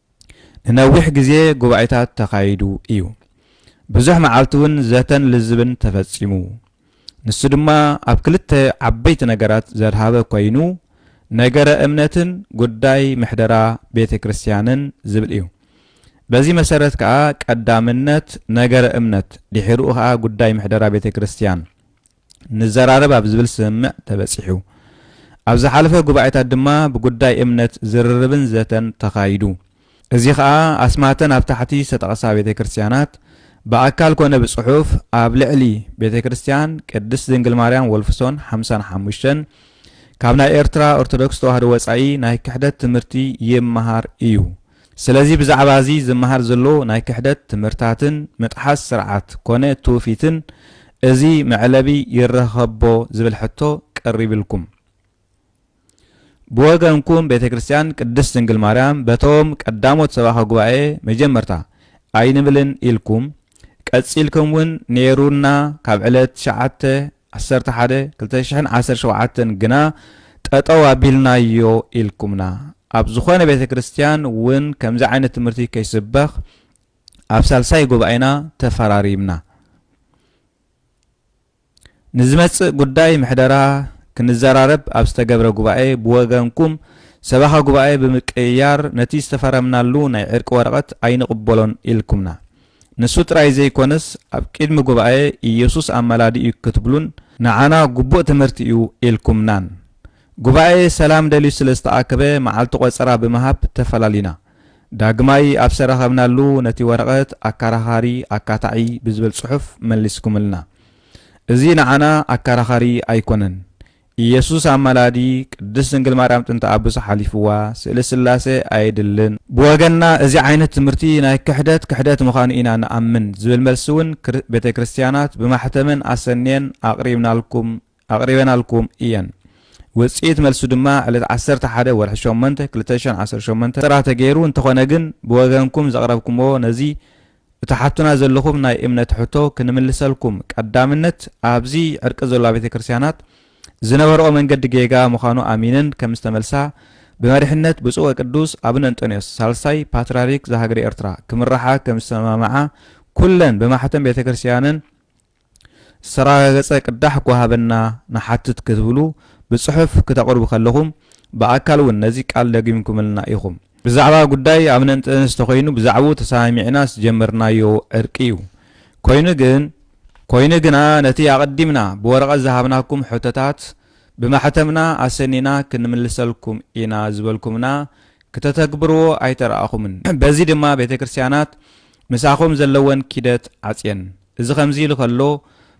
ንነዊሕ ግዜ ጉባኤታት ተኻይዱ እዩ። ብዙሕ መዓልቲውን ዘተን ልዝብን ተፈጺሙ። ንሱ ድማ ኣብ ክልተ ዓበይቲ ነገራት ዘድሃበ ኮይኑ ነገረ እምነትን ጉዳይ ምሕደራ ቤተ ክርስቲያንን ዝብል እዩ። በዚ መሰረት ከኣ ቀዳምነት ነገረ እምነት ድሒርኡ ከኣ ጉዳይ ምሕደራ ቤተ ክርስቲያን ንዘራረብ ኣብ ዝብል ስምምዕ ተበጺሑ። ኣብ ዝሓለፈ ጉባኤታት ድማ ብጉዳይ እምነት ዝርርብን ዘተን ተኻይዱ። እዚ ኸኣ ኣስማተን ኣብ ታሕቲ ዝተጠቕሳ ቤተ ክርስቲያናት ብኣካል ኮነ ብጽሑፍ ኣብ ልዕሊ ቤተ ክርስቲያን ቅድስት ድንግል ማርያም ወልፍሶን ሓምሳን ሓሙሽተን ካብ ናይ ኤርትራ ኦርቶዶክስ ተዋህዶ ወጻኢ ናይ ክሕደት ትምህርቲ ይመሃር እዩ ስለዚ ብዛዕባ እዚ ዝመሃር ዘሎ ናይ ክሕደት ትምህርታትን ምጥሓስ ስርዓት ኮነ ትውፊትን እዚ መዕለቢ ይረኸቦ ዝብል ሕቶ ቀሪብልኩም። ብወገንኩም ቤተ ክርስቲያን ቅድስት ድንግል ማርያም በቶም ቀዳሞት ሰባኸ ጉባኤ መጀመርታ ኣይንብልን ኢልኩም ቀጺልኩም ውን ኔሩና ካብ ዕለት ትሽዓተ ዓሰርተ ሓደ ክልተ ሽሕን ዓሰርተ ሸውዓተን ግና ጠጠው ኣቢልናዮ ኢልኩምና። ኣብ ዝኾነ ቤተ ክርስትያን ውን ከምዚ ዓይነት ትምህርቲ ከይስበኽ ኣብ ሳልሳይ ጉባኤና ተፈራሪምና። ንዝመጽእ ጉዳይ ምሕደራ ክንዘራረብ ኣብ ዝተገብረ ጉባኤ ብወገንኩም ሰበኻ ጉባኤ ብምቅይያር ነቲ ዝተፈረምናሉ ናይ ዕርቂ ወረቐት ኣይንቕበሎን ኢልኩምና። ንሱ ጥራይ ዘይኰነስ ኣብ ቂድሚ ጉባኤ ኢየሱስ ኣማላዲ እዩ ክትብሉን ንዓና ግቡእ ትምህርቲ እዩ ኢልኩምናን። ጉባኤ ሰላም ደልዩ ስለ ዝተኣከበ መዓልቲ ቆጸራ ብምሃብ ተፈላሊና። ዳግማይ ኣብ ዝተራኸብናሉ ነቲ ወረቐት ኣካራኻሪ፣ ኣካታዒ ብዝብል ጽሑፍ መልስኩምልና። እዚ ንዓና ኣካራኻሪ ኣይኰነን። ኢየሱስ ኣማላዲ ቅድስት ድንግል ማርያም ጥንተ ኣቡሰ ሓሊፍዋ ስእሊ ስላሴ ኣየድልን። ብወገንና እዚ ዓይነት ትምህርቲ ናይ ክሕደት ክሕደት ምዃኑ ኢና ንኣምን ዝብል መልሲ እውን ቤተ ክርስቲያናት ብማሕተመን ኣሰንየን ኣቕሪብናልኩም ኣቕሪበናልኩም እየን። ውጽኢት መልሱ ድማ ዕለት ዓሰርተ ሓደ ወርሒ ሸሞንተ ክልተ ሽሕን ዓሰርተ ሸሞንተን ጥራ ተገይሩ እንተኾነ ግን ብወገንኩም ዘቕረብኩምዎ ነዚ እትሓቱና ዘለኹም ናይ እምነት ሕቶ ክንምልሰልኩም ቀዳምነት ኣብዚ ዕርቂ ዘሎ ኣብያተ ክርስቲያናት ዝነበርኦ መንገዲ ጌጋ ምዃኑ ኣሚነን ከም ዝተመልሳ ብመሪሕነት ብፁዕ ወቅዱስ ኣቡነ እንጦንዮስ ሳልሳይ ፓትርያርክ ዘሃገረ ኤርትራ ክምርሓ ከም ዝተሰማምዓ ኩለን ብማሕተም ቤተ ክርስቲያነን ዝተራጋገጸ ቅዳሕ እኳ ሃበና ንሓትት ክትብሉ ብጽሑፍ ክተቕርቡ ከለኹም ብኣካል ውን ነዚ ቃል ደጊምኩምልና ኢኹም። ብዛዕባ ጉዳይ ኣብነንጥንስ ተኾይኑ ብዛዕብኡ ተሰማሚዕናስ ዝጀመርናዮ ዕርቂ እዩ። ኮይኑ ግን። ኮይኑ ግና ነቲ ኣቐዲምና ብወረቐት ዝሃብናኩም ሕቶታት ብማሕተምና ኣሰኒና ክንምልሰልኩም ኢና ዝበልኩምና ክተተግብርዎ ኣይተራእኹምን። በዚ ድማ ቤተ ክርስቲያናት ምሳኹም ዘለወን ኪደት ዓጽየን። እዚ ከምዚ ኢሉ ከሎ፣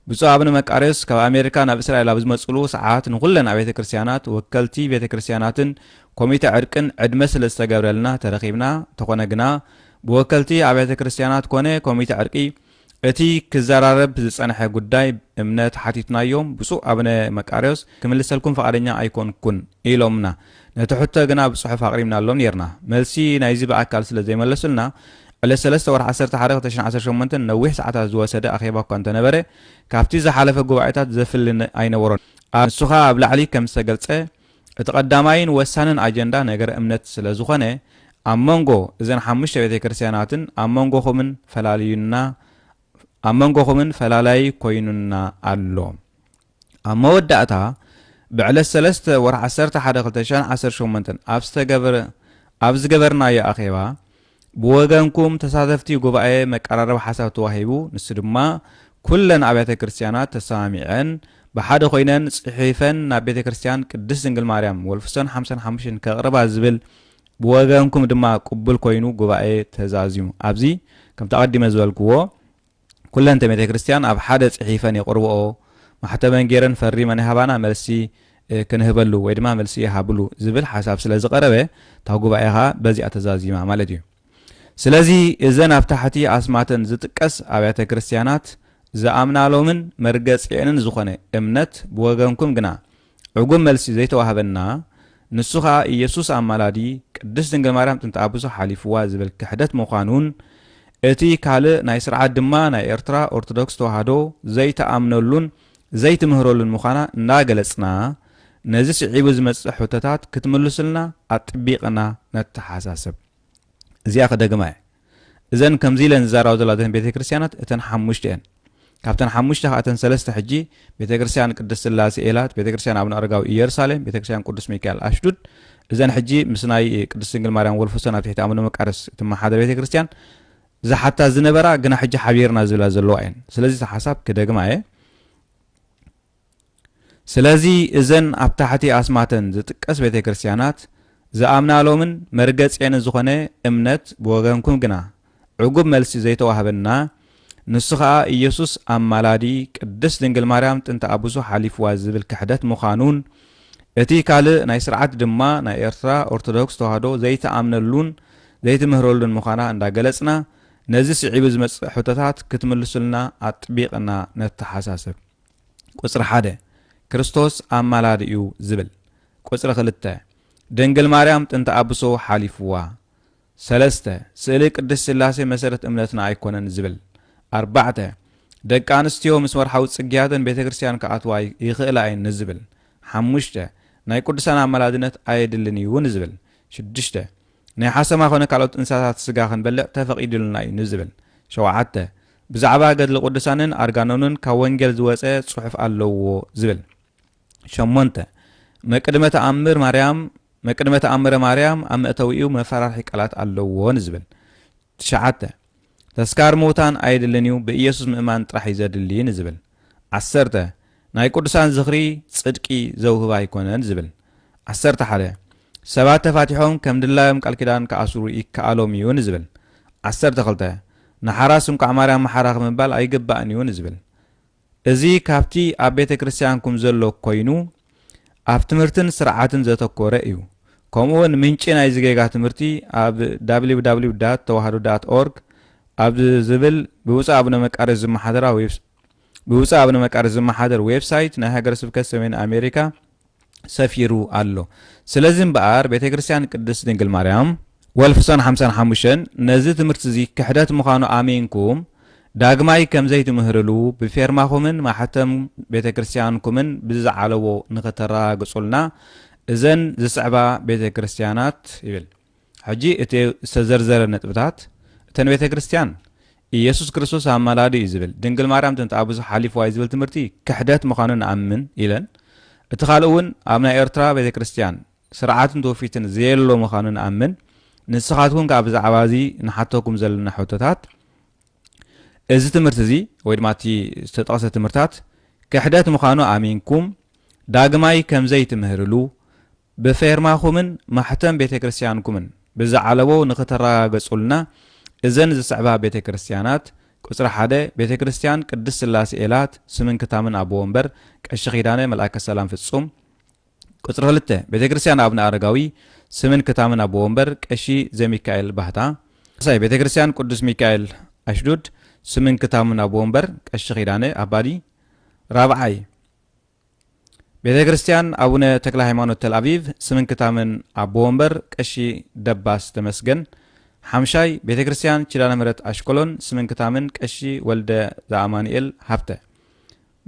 ብፁዕ ኣብነ መቃርዮስ ካብ ኣሜሪካ ናብ እስራኤል ኣብ ዝመጽሉ ሰዓት ንኹለን ኣብያተ ክርስቲያናት፣ ወከልቲ ቤተ ክርስቲያናትን ኮሚተ ዕርቅን ዕድመ ስለ ዝተገብረልና ተረኺብና፣ እንተኾነ ግና ብወከልቲ ኣብያተ ክርስቲያናት ኮነ ኮሚተ ዕርቂ እቲ ክዘራረብ ዝጸንሐ ጉዳይ እምነት ሓቲትናዮም ብፁዕ ኣብነ መቃርዮስ ክምልሰልኩም ፍቓደኛ ኣይኮንኩን ኢሎምና። ነቲ ሕቶ ግና ብጽሑፍ ኣቕሪብናሎም ኔርና። መልሲ ናይዚ ብኣካል ስለ ዘይመለሱልና፣ ዕለት ሰለስተ ወርሒ ዓሰርተ ሓደ ክልተ ሽሕን ዓሰርተ ሸሞንተን ነዊሕ ሰዓታት ዝወሰደ ኣኼባ እኳ እንተ ነበረ፣ ካብቲ ዝሓለፈ ጉባኤታት ዘፍሊ ኣይነበሮን። a ንሱኻ ኣብ ላዕሊ ከም ዝተገልጸ፣ እቲ ቀዳማይን ወሳንን ኣጀንዳ ነገረ እምነት ስለ ዝዀነ፣ ኣብ መንጎ እዘን ሓሙሽተ ቤተ ክርስቲያናትን ኣብ መንጎኹምን ፈላልዩና ኣብ መንጎኹምን ፈላላዪ ኰይኑና ኣሎ። ኣብ መወዳእታ ብዕለት ሰለስተ ወርሒ ዓሰርተ ሓደ ክልተ ሽሕን ዓሰርተ ሸሞንተን ኣብ ዝገበርናዮ ኣኼባ ብወገንኩም ተሳተፍቲ ጉባኤ መቀራረቢ ሓሳብ ተዋሂቡ ንሱ ድማ ኩለን ኣብያተ ክርስቲያናት ተሰማሚዐን ብሓደ ኮይነን ጽሒፈን ናብ ቤተ ክርስቲያን ቅድስት ድንግል ማርያም ወልፍሶን ሓምሳን ሓሙሽተን ከቕርባ ዝብል ብወገንኩም ድማ ቅቡል ኮይኑ ጉባኤ ተዛዚሙ ኣብዚ ከምቲ ኣቐዲመ ዝበልክዎ ኩለን እተን ቤተክርስትያን ኣብ ሓደ ጽሒፈን የቕርብኦ፣ ማሕተመን ገይረን ፈሪመን ይሃባና መልሲ ክንህበሉ ወይ ድማ መልሲ ይሃብሉ ዝብል ሓሳብ ስለ ዝቐረበ እታ ጉባኤ ኸኣ በዚኣ ተዛዚማ ማለት እዩ። ስለዚ እዘን ኣብ ታሕቲ ኣስማተን ዝጥቀስ ኣብያተ ክርስትያናት ዝኣምናሎምን መርገጺኤንን ዝኾነ እምነት ብወገንኩም ግና ዕጉብ መልሲ ዘይተዋህበና ንሱ ከኣ ኢየሱስ ኣማላዲ ቅድስት ድንግል ማርያም ጥንተ ኣቡዘ ሓሊፍዋ ዝብል ክሕደት ምዃኑን እቲ ካልእ ናይ ስርዓት ድማ ናይ ኤርትራ ኦርቶዶክስ ተዋህዶ ዘይትኣምነሉን ዘይትምህረሉን ምዃና እንዳገለጽና ነዚ ስዒቡ ዝመጽእ ሕቶታት ክትምልሱልና ኣጥቢቅና ነተሓሳስብ እዚኣ ክደግማ እየ። እዘን ከምዚ ኢለን ዝዛረባ ዘለዋ እተን ቤተ ክርስቲያናት እተን ሓሙሽተ እየን። ካብተን ሓሙሽተ ከኣ እተን ሰለስተ ሕጂ ቤተ ክርስቲያን ቅድስት ስላሴ ኤላት፣ ቤተ ክርስቲያን ኣቡነ ኣረጋዊ ኢየሩሳሌም፣ ቤተ ክርስቲያን ቅዱስ ሚካኤል ኣሽዱድ እዘን ሕጂ ምስ ናይ ቅድስት ድንግል ማርያም ወልፎሰን ኣብ ትሕቲ ኣቡነ መቃርስ እትመሓደር ቤተ ክርስቲያን ዝሓታ ዝነበራ ግና ሕጂ ሓቢርና ዝብላ ዘለዋ እየን። ስለዚ እቲ ሓሳብ ክደግማ እየ። ስለዚ እዘን ኣብ ታሕቲ ኣስማተን ዝጥቀስ ቤተ ክርስቲያናት ዝኣምናሎምን መርገጺኤን ዝኾነ እምነት ብወገንኩም ግና ዕጉብ መልሲ ዘይተዋህበና ንሱ ከኣ ኢየሱስ ኣማላዲ ቅድስት ድንግል ማርያም ጥንተ ኣቡሱ ሓሊፍዋ ዝብል ክሕደት ምዃኑን እቲ ካልእ ናይ ስርዓት ድማ ናይ ኤርትራ ኦርቶዶክስ ተዋህዶ ዘይትኣምነሉን ዘይትምህረሉን ምዃና እንዳገለጽና ነዚ ስዒቡ ዝመጽእ ሕቶታት ክትምልሱልና ኣጥቢቕና ነተሓሳስብ። ቁጽሪ ሓደ፣ ክርስቶስ ኣማላዲ'ዩ ዝብል። ቁጽሪ ክልተ፣ ድንግል ማርያም ጥንተ ኣብሶ ሓሊፉዋ። ሰለስተ፣ ስእሊ ቅድስት ስላሴ መሰረት እምነትና ኣይኮነን ዝብል። ኣርባዕተ፣ ደቂ ኣንስትዮ ምስ ወርሓዊ ጽግያተን ቤተ ክርስቲያን ክኣትዋ ኣይክእላ እየን ንዝብል። ሓሙሽተ፣ ናይ ቅዱሳን ኣማላድነት ኣየድልን እዩ ንዝብል። ሽዱሽተ፣ ናይ ሓሰማ ኮነ ካልኦት እንስሳታት ስጋ ክንበልዕ ተፈቒዱልና እዩ ንዝብል። ሸውዓተ፣ ብዛዕባ ገድሊ ቅዱሳንን ኣርጋኖንን ካብ ወንጌል ዝወጸ ጽሑፍ ኣለዎ ዝብል። ሸሞንተ፣ መቅድመ ተኣምር ማርያም መቅድመ ተኣምረ ማርያም ኣብ መእተዊኡ መፈራርሒ ቃላት ኣለዎ ንዝብል። ትሽዓተ፣ ተስካር ምውታን ኣየድልን እዩ ብኢየሱስ ምእማን ጥራሕ እዩ ዘድሊ ንዝብል። ዓሰርተ፣ ናይ ቅዱሳን ዝኽሪ ጽድቂ ዘውህብ ኣይኮነን ዝብል። ዓሰርተ ሓደ፣ ሰባት ተፋቲሖም ከም ድላዮም ቃል ኪዳን ክኣስሩ ይከኣሎም እዩ ንዝብል። ዓሰርተ ክልተ፣ ንሓራስ እንቋዕ ማርያም መሓራኺ ምባል ኣይግባእን እዩ ንዝብል። እዚ ካብቲ ኣብ ቤተ ክርስቲያንኩም ዘሎ ኮይኑ ኣብ ትምህርትን ስርዓትን ዘተኮረ እዩ። ከምኡውን ምንጪ ናይዚ ጌጋ ትምህርቲ ኣብ www ዳት ተዋህዶ ዳት ኦርግ ኣብ ዝብል ብብፁዕ ኣቡነ መቃርዮስ ዝመሓደራ ዌብ ብብፁዕ ኣቡነ መቃርዮስ ዝመሓደር ዌብ ሳይት ናይ ሃገረ ስብከት ሰሜን ኣሜሪካ ሰፊሩ ኣሎ። ስለዚ እምበኣር ቤተ ክርስቲያን ቅድስት ድንግል ማርያም Wolfson ሓምሳን ሓሙሽተን ነዚ ትምህርቲዚ ክሕደት ምዃኑ ኣሚንኩም ዳግማይ ከም ዘይትምህርሉ ብፌርማኹምን ማሕተም ቤተ ክርስቲያንኩምን ብዝዓለዎ ንኽተረጋግጹልና እዘን ዝስዕባ ቤተ ክርስቲያናት ይብል ሕጂ እቲ ዝተዘርዘረ ነጥብታት እተን ቤተ ክርስቲያን ኢየሱስ ክርስቶስ ኣማላዲ እዩ ዝብል ድንግል ማርያም ትምጣ ብዙሕ ሓሊፍዋ እዩ ዝብል ትምህርቲ ክሕደት ምዃኑ ንኣምን ኢለን እቲ ካልእ እውን ኣብ ናይ ኤርትራ ቤተ ክርስቲያን ስርዓትን ትውፊትን ዘየሎ ምዃኑ ንኣምን። ንስኻትኩም ከኣ ብዛዕባ እዚ ንሓተኩም ዘለና ሕቶታት፣ እዚ ትምህርቲ እዚ ወይ ድማ እቲ ዝተጠቕሰ ትምህርታት ክሕደት ምዃኑ ኣሚንኩም ዳግማይ ከም ዘይትምህርሉ ብፌርማኹምን ማሕተም ቤተ ክርስቲያንኩምን ብዝዓለቦ ንክተረጋገጹልና እዘን ዝስዕባ ቤተ ክርስቲያናት ቁጽሪ ሓደ ቤተ ክርስቲያን ቅድስት ሥላሴ ኤላት ስምን ክታምን ኣቦ ወንበር ቀሺ ኪዳነ መልኣከ ሰላም ፍጹም ቁጽሪ ክልተ ቤተክርስትያን ኣብነ ኣረጋዊ ስምን ክታምን ኣቦ ወንበር ቀሺ ዘሚካኤል ባህታ። ሳልሳይ ቤተክርስትያን ቅዱስ ሚካኤል ኣሽዱድ ስምን ክታምን ኣቦ ወንበር ቀሺ ኪዳነ ኣባዲ። ራብዓይ ቤተክርስትያን ኣቡነ ተክለሃይማኖት ተልኣቪቭ ስምን ክታምን ኣቦ ወንበር ቀሺ ደባስ ተመስገን። ሓምሻይ ቤተክርስትያን ኪዳነምህረት ኣሽቀሎን ስምን ክታምን ቀሺ ወልደ ዘኣማኑኤል ሃብተ።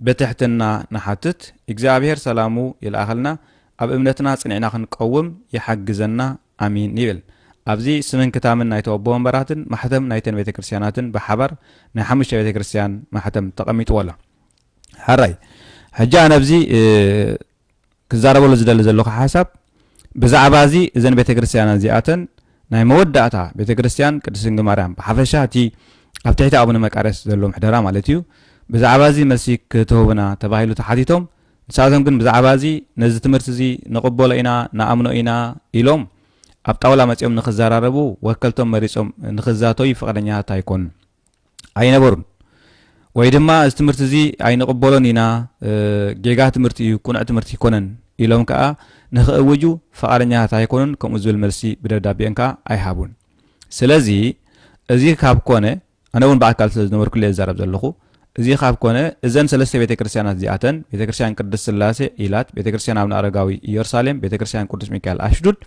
ብትሕትና ንሓትት እግዚኣብሔር ሰላሙ ይልኣኸልና ኣብ እምነትና ጽኒዕና ክንቀውም ይሓግዘና ኣሜን ይብል ኣብዚ ስምን ክታምን ናይቶ ኣቦ ወንበራትን ማሕተም ናይተን ቤተ ክርስትያናትን ብሓባር ናይ ሓሙሽተ ቤተ ክርስትያን ማሕተም ተቐሚጥዎ ኣሎ ሐራይ ሕጂ ኣነ ኣብዚ ክዛረበሉ ዝደሊ ዘለኹ ሓሳብ ብዛዕባ እዚ እዘን ቤተ ክርስቲያናት እዚኣተን ናይ መወዳእታ ቤተ ክርስቲያን ቅድስት ድንግል ማርያም ብሓፈሻ እቲ ኣብ ትሕቲ ኣቡነ መቃርዮስ ዘሎ ምሕደራ ማለት እዩ ብዛዕባ እዚ መልሲ ክትህቡና ተባሂሉ ተሓቲቶም ንሳቶም ግን ብዛዕባ እዚ ነዚ ትምህርቲ እዚ ንቕበሎ ኢና ንኣምኖ ኢና ኢሎም ኣብ ጣውላ መጺኦም ንክዘራረቡ ወከልቶም መሪጾም ንክዛተዩ ፍቕደኛታት ኣይኮኑን ኣይነበሩን ወይ ድማ እዚ ትምህርቲ እዚ ኣይንቕበሎን ኢና ጌጋ ትምህርቲ እዩ ቁኑዕ ትምህርቲ ኣይኮነን ኢሎም ከዓ ንክእውጁ ፈቓደኛታት ኣይኮኑን ከምኡ ዝብል መልሲ ብደብዳቤኦም ከዓ ኣይሃቡን ስለዚ እዚ ካብ ኮነ ኣነ እውን ብኣካል ስለ ዝነበርኩ እዛረብ ዘለኹ እዚ ካብ ኮነ እዘን ሰለስተ ቤተ ክርስቲያናት እዚኣተን ቤተ ክርስቲያን ቅድስት ስላሴ ኢላት ቤተ ክርስቲያን ኣብነ ኣረጋዊ ኢየሩሳሌም ቤተ ክርስቲያን ቅዱስ ሚካኤል ኣሽዱድ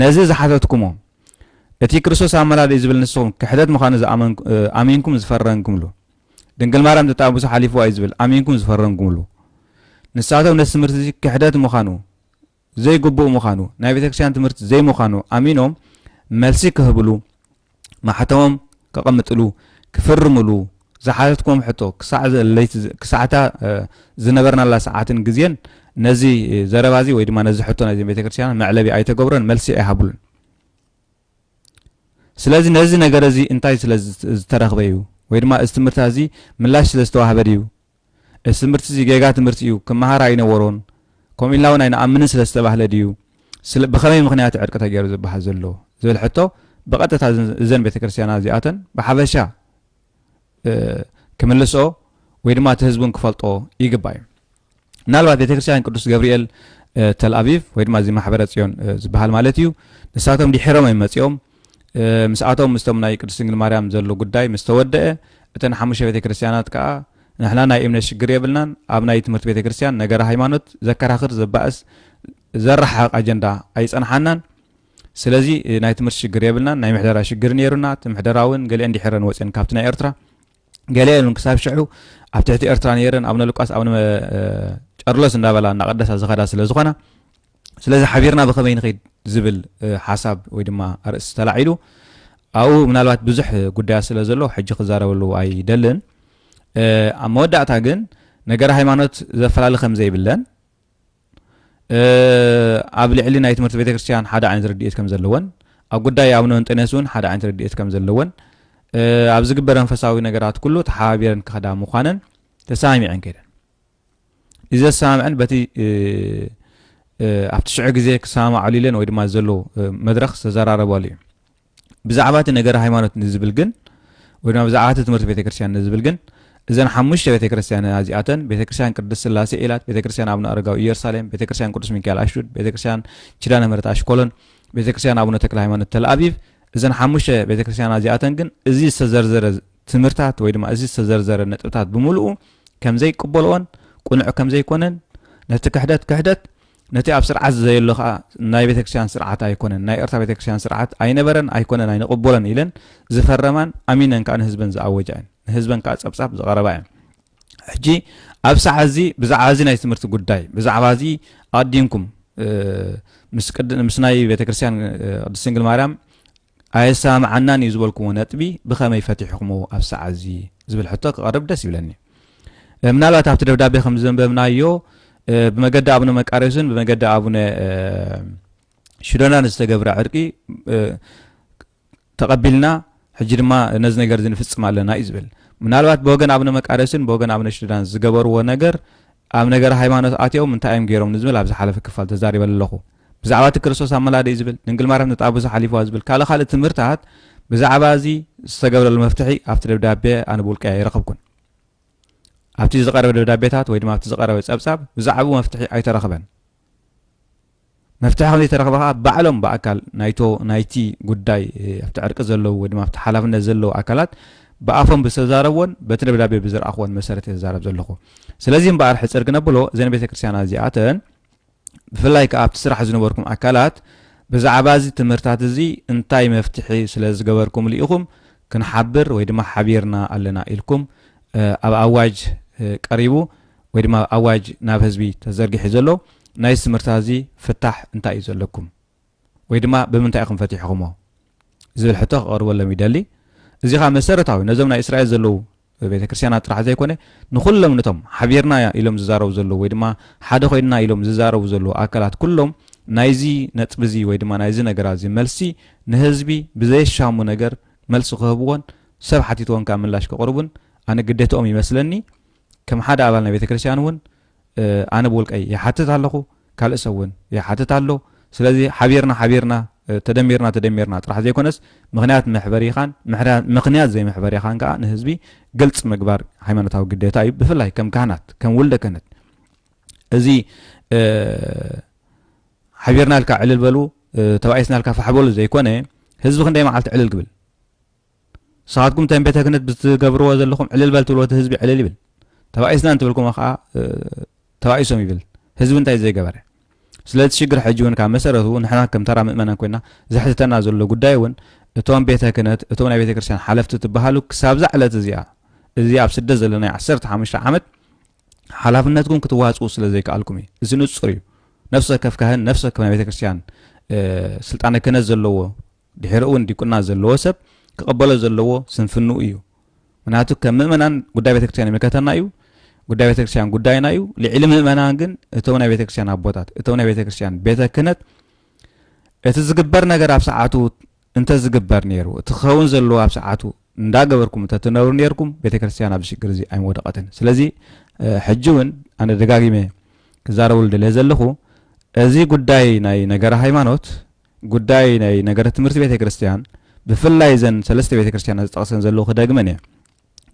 ነዚ ዝሓተትኩሞ እቲ ክርስቶስ ኣመላልእዩ ዝብል ንስኹም ክሕደት ምዃኑ ኣሚንኩም ዝፈረንኩምሉ ድንግል ማርያም ተጣብሱ ሓሊፍዋ እዩ ዝብል ኣሚንኩም ዝፈረንኩምሉ ንሳቶም ነቲ ትምህርቲ እዚ ክሕደት ምዃኑ ዘይግቡእ ምዃኑ ናይ ቤተክርስትያን ትምህርቲ ዘይምዃኑ ኣሚኖም መልሲ ክህብሉ ማሕተሞም ከቐምጥሉ፣ ክፍርምሉ፣ ዝሓተትክዎም ሕቶ፣ ክሳዕ ለይቲ፣ ክሳዕ እታ ዝነበርናላ ሰዓትን ግዜን፣ ነዚ ዘረባ እዚ ወይ ድማ ነዚ ሕቶ ናይዘን ቤተክርስትያናት መዕለቢ ኣይተገብሮን፣ መልሲ ኣይሃቡሉን። ስለዚ ነዚ ነገር እዚ እንታይ ስለ ዝተረኽበ እዩ፣ ወይ ድማ እዚ ትምህርትታት እዚ ምላሽ ስለ ዝተዋህበ ድዩ፣ እዚ ትምህርቲ እዚ ጌጋ ትምህርቲ እዩ፣ ክመሃር ኣይነበሮን፣ ከምኡ ኢልና እውን ኣይንኣምንን ስለ ዝተባህለ ድዩ ስለ ብኸመይ ምኽንያት ዕርቂ ተገይሩ ዝበሃል ዘሎ ዝብል ሕቶ ብቐጥታ እዘን ቤተ ክርስቲያና እዚኣተን ብሓፈሻ ክምልስኦ ወይ ድማ እቲ ህዝቡን ክፈልጦ ይግባ እዩ ምናልባት ቤተ ክርስቲያን ቅዱስ ገብርኤል ተልኣቪቭ ወይ ድማ እዚ ማሕበረ ፅዮን ዝበሃል ማለት እዩ ንሳቶም ድሒሮም እዮም መፂኦም ምስኣቶም ምስቶም ናይ ቅድስት ድንግል ማርያም ዘሎ ጉዳይ ምስ ተወደአ እተን ሓሙሽተ ቤተ ክርስቲያናት ከኣ ንሕና ናይ እምነት ሽግር የብልናን ኣብ ናይ ትምህርቲ ቤተ ክርስቲያን ነገረ ሃይማኖት ዘከራኽር ዘባእስ ዘረሓሕቕ ኣጀንዳ ኣይጸንሓናን ስለዚ ናይ ትምህርቲ ሽግር የብልናን ናይ ምሕደራ ሽግር ነይሩና እቲ ምሕደራ እውን ገሊአን ዲሒረን ወጺአን ካብቲ ናይ ኤርትራ ገለ ኢሉን ክሳብ ሽዑ ኣብ ትሕቲ ኤርትራ ነይረን ኣብነ ሉቃስ ኣብነ ጨርሎስ እንዳበላ እናቐደሳ ዝኸዳ ስለ ዝኾና ስለዚ ሓቢርና ብኸመይ ንኸይድ ዝብል ሓሳብ ወይ ድማ ኣርእስቲ ተላዒሉ ኣብኡ ምናልባት ብዙሕ ጉዳያት ስለ ዘሎ ሕጂ ክዛረበሉ ኣይደልን ኣብ መወዳእታ ግን ነገረ ሃይማኖት ዘፈላለ ከም ዘይብለን ኣብ ልዕሊ ናይ ትምህርቲ ቤተ ክርስቲያን ሓደ ዓይነት ረድኤት ከም ዘለወን ኣብ ጉዳይ ኣቡነ እንጠንያስ እውን ሓደ ዓይነት ረድኤት ከም ዘለወን ኣብ ዝግበር መንፈሳዊ ነገራት ኩሉ ተሓባቢረን ክኸዳ ምዃነን ተሰማሚዐን ከይደን እዚ ዘሰማምዐን በቲ ኣብቲ ሽዑ ግዜ ክሰማማዕሉ ኢለን ወይ ድማ ዘሎ መድረኽ ዝተዘራረባሉ እዩ ብዛዕባ እቲ ነገረ ሃይማኖት ንዝብል ግን ወይ ድማ ብዛዕባ እቲ ትምህርቲ ቤተ ክርስቲያን ንዝብል ግን እዘን ሓሙሽተ ቤተ ክርስቲያን እዚኣተን ቤተ ክርስቲያን ቅድስት ስላሴ ኢላት፣ ቤተ ክርስቲያን ኣቡነ ኣረጋዊ ኢየሩሳሌም፣ ቤተ ክርስቲያን ቅዱስ ሚካኤል ኣሽዱድ፣ ቤተ ክርስቲያን ኪዳነ ምሕረት ኣሽኮሎን፣ ቤተ ክርስቲያን ኣቡነ ተክለ ሃይማኖት ተልኣቢብ እዘን ሓሙሽተ ቤተ ክርስቲያን እዚኣተን ግን እዚ ዝተዘርዘረ ትምህርታት ወይ ድማ እዚ ዝተዘርዘረ ነጥብታት ብምልኡ ከም ዘይቅበልኦን ቅኑዕ ከም ዘይኮነን ነቲ ክሕደት ክሕደት ነቲ ኣብ ስርዓት ዘየሎ ከኣ ናይ ቤተክርስቲያን ስርዓት ኣይኮነን ናይ ኤርትራ ቤተክርስቲያን ስርዓት ኣይነበረን ኣይኮነን ኣይንቕበሎን ኢለን ዝፈረማን ኣሚነን ከኣ ንህዝበን ዝኣወጃ እየን ንህዝበን ከኣ ጸብጻብ ዝቐረባ እየን ሕጂ ኣብ ሰዓ እዚ ብዛዕባ እዚ ናይ ትምህርቲ ጉዳይ ብዛዕባ እዚ ኣዲንኩም ምስ ናይ ቤተክርስትያን ቅድስት ድንግል ማርያም ኣየሰማምዓናን እዩ ዝበልኩምዎ ነጥቢ ብኸመይ ፈቲሕኹምዎ ኣብ ሰዓት እዚ ዝብል ሕቶ ክቐርብ ደስ ይብለኒ። ምናልባት ኣብቲ ደብዳቤ ከም ዘንበብናዮ ብመገዲ ኣቡነ መቃርዮስን ብመገዲ ኣቡነ ሽዶናን ዝተገብረ ዕርቂ ተቐቢልና ሕጂ ድማ ነዚ ነገር እዚ ንፍጽም ኣለና እዩ ዝብል ምናልባት ብወገን ኣቡነ መቃርዮስን ብወገን ኣቡነ ሽዶናን ዝገበርዎ ነገር ኣብ ነገር ሃይማኖት ኣትኦም እንታይ እዮም ገይሮም ንዝብል ኣብ ዝሓለፈ ክፋል ተዛሪበ ኣለኹ። ብዛዕባ እቲ ክርስቶስ ኣብ መላድዩ ዝብል፣ ድንግል ማርያም ነቲ ኣቦ ሓሊፍዋ ዝብል ካልእ ካልእ ትምህርታት ብዛዕባ እዚ ዝተገብረሉ መፍትሒ ኣብቲ ደብዳቤ ኣነ ብውልቀይ ኣይረኸብኩን። ኣብቲ ዝቐረበ ደብዳቤታት ወይ ድማ ኣብቲ ዝቐረበ ጸብጻብ ብዛዕባኡ መፍትሒ ኣይተረኽበን። መፍትሒ ከም ዘይተረኽበ ከዓ ባዕሎም ብኣካል ናይቶ ናይቲ ጉዳይ ኣብቲ ዕርቂ ዘለዉ ወይ ድማ ኣብቲ ሓላፍነት ዘለዉ ኣካላት ብኣፎም ብዝተዛረብዎን በቲ ደብዳቤ ብዝረኣኽዎን መሰረት እየ ዝዛረብ ዘለኹ ስለዚ እምበኣር ሕፅር ክነብሎ እዘን ቤተ ክርስቲያና እዚኣተን ብፍላይ ከኣ ኣብቲ ስራሕ ዝነበርኩም ኣካላት ብዛዕባ እዚ ትምህርታት እዚ እንታይ መፍትሒ ስለ ዝገበርኩምሉ ኢኹም ክንሓብር ወይ ድማ ሓቢርና ኣለና ኢልኩም ኣብ ኣዋጅ ቀሪቡ ወይ ድማ ኣብ ኣዋጅ ናብ ህዝቢ ተዘርጊሑ ዘሎ ናይዚ ትምህርታት እዚ ፍታሕ እንታይ እዩ ዘለኩም? ወይ ድማ ብምንታይ ኢኹም ፈቲሕኹሞ ዝብል ሕቶ ክቐርበሎም ይደሊ። እዚ ኸኣ መሰረታዊ ነዞም ናይ እስራኤል ዘለዉ ቤተ ክርስቲያናት ጥራሕ ዘይኮነ ንዅሎም ነቶም ሓቢርና ኢሎም ዝዛረቡ ዘለዉ ወይ ድማ ሓደ ኮይንና ኢሎም ዝዛረቡ ዘለዉ ኣካላት ኵሎም ናይዚ ነጥቢ እዚ ወይ ድማ ናይዚ ነገራ እዚ መልሲ ንህዝቢ ብዘየሻሙ ነገር መልሲ ክህብዎን ሰብ ሓቲትዎም ከኣ ምላሽ ከቕርቡን ኣነ ግዴትኦም ይመስለኒ ከም ሓደ ኣባል ናይ ቤተ ክርስቲያን እውን ኣነ ብውልቀይ ይሓትት ኣለኹ፣ ካልእ ሰብ እውን ይሓትት ኣሎ። ስለዚ ሓቢርና ሓቢርና፣ ተደሚርና ተደሚርና ጥራሕ ዘይኮነስ ምኽንያት መሕበሪኻን ምኽንያት ዘይመሕበሪኻን ከኣ ንህዝቢ ግልፂ ምግባር ሃይማኖታዊ ግዴታ እዩ። ብፍላይ ከም ካህናት ከም ውልደ ክህነት እዚ ሓቢርና ኢልካ ዕልል በሉ ተባኢስና ኢልካ ፋሕ በሉ ዘይኮነ ህዝቢ ክንደይ መዓልቲ ዕልል ክብል ንስኻትኩም ተን ቤተ ክህነት ብትገብርዎ ዘለኹም ዕልል በል ትብልዎ እቲ ህዝቢ ዕልል ይብል ተባኢስና እንትብልኩሞ ከዓ ተባኢሶም ይብል ህዝቢ እንታይ ዘይገበረ ስለዚ ሽግር ሕጂ እውን ካብ መሰረቱ ንሕና ከም ተራ ምእመናን ኮይና ዘሕትተና ዘሎ ጉዳይ እውን እቶም ቤተ ክህነት እቶም ናይ ቤተ ክርስቲያን ሓለፍቲ ትበሃሉ ክሳብዛ ዕለት እዚኣ እዚ ኣብ ስደት ዘለናይ ዓሰርተ ሓሙሽተ ዓመት ሓላፍነትኩም ክትዋፅኡ ስለ ዘይከኣልኩም እዩ እዚ ንፁር እዩ ነፍሰ ከፍ ካህን ነፍሰ ከፍ ናይ ቤተ ክርስቲያን ስልጣነ ክህነት ዘለዎ ድሒሩ እውን ዲቁና ዘለዎ ሰብ ክቐበሎ ዘለዎ ስንፍንኡ እዩ። ምክንያቱ ከም ምእመናን ጉዳይ ቤተክርስቲያን ይምልከተና እዩ፣ ጉዳይ ቤተክርስቲያን ጉዳይና እዩ። ልዕሊ ምእመናን ግን እቶም ናይ ቤተክርስቲያን ኣቦታት፣ እቶም ናይ ቤተክርስቲያን ቤተ ክህነት እቲ ዝግበር ነገር ኣብ ሰዓቱ እንተዝግበር ነይሩ እቲ ክኸውን ዘለዎ ኣብ ሰዓቱ እንዳገበርኩም እንተትነብሩ ነርኩም ቤተክርስትያን ኣብዚ ሽግር እዚ ኣይምወደቐትን ስለዚ ሕጂ እውን ኣነ ደጋጊመ ክዛረበሉ ደለ ዘለኹ እዚ ጉዳይ ናይ ነገረ ሃይማኖት ጉዳይ ናይ ነገረ ትምህርቲ ቤተ ክርስቲያን ብፍላይ እዘን ሰለስተ ቤተ ክርስቲያናት ዝጠቕሰን ዘለዉ ክደግመን እየ።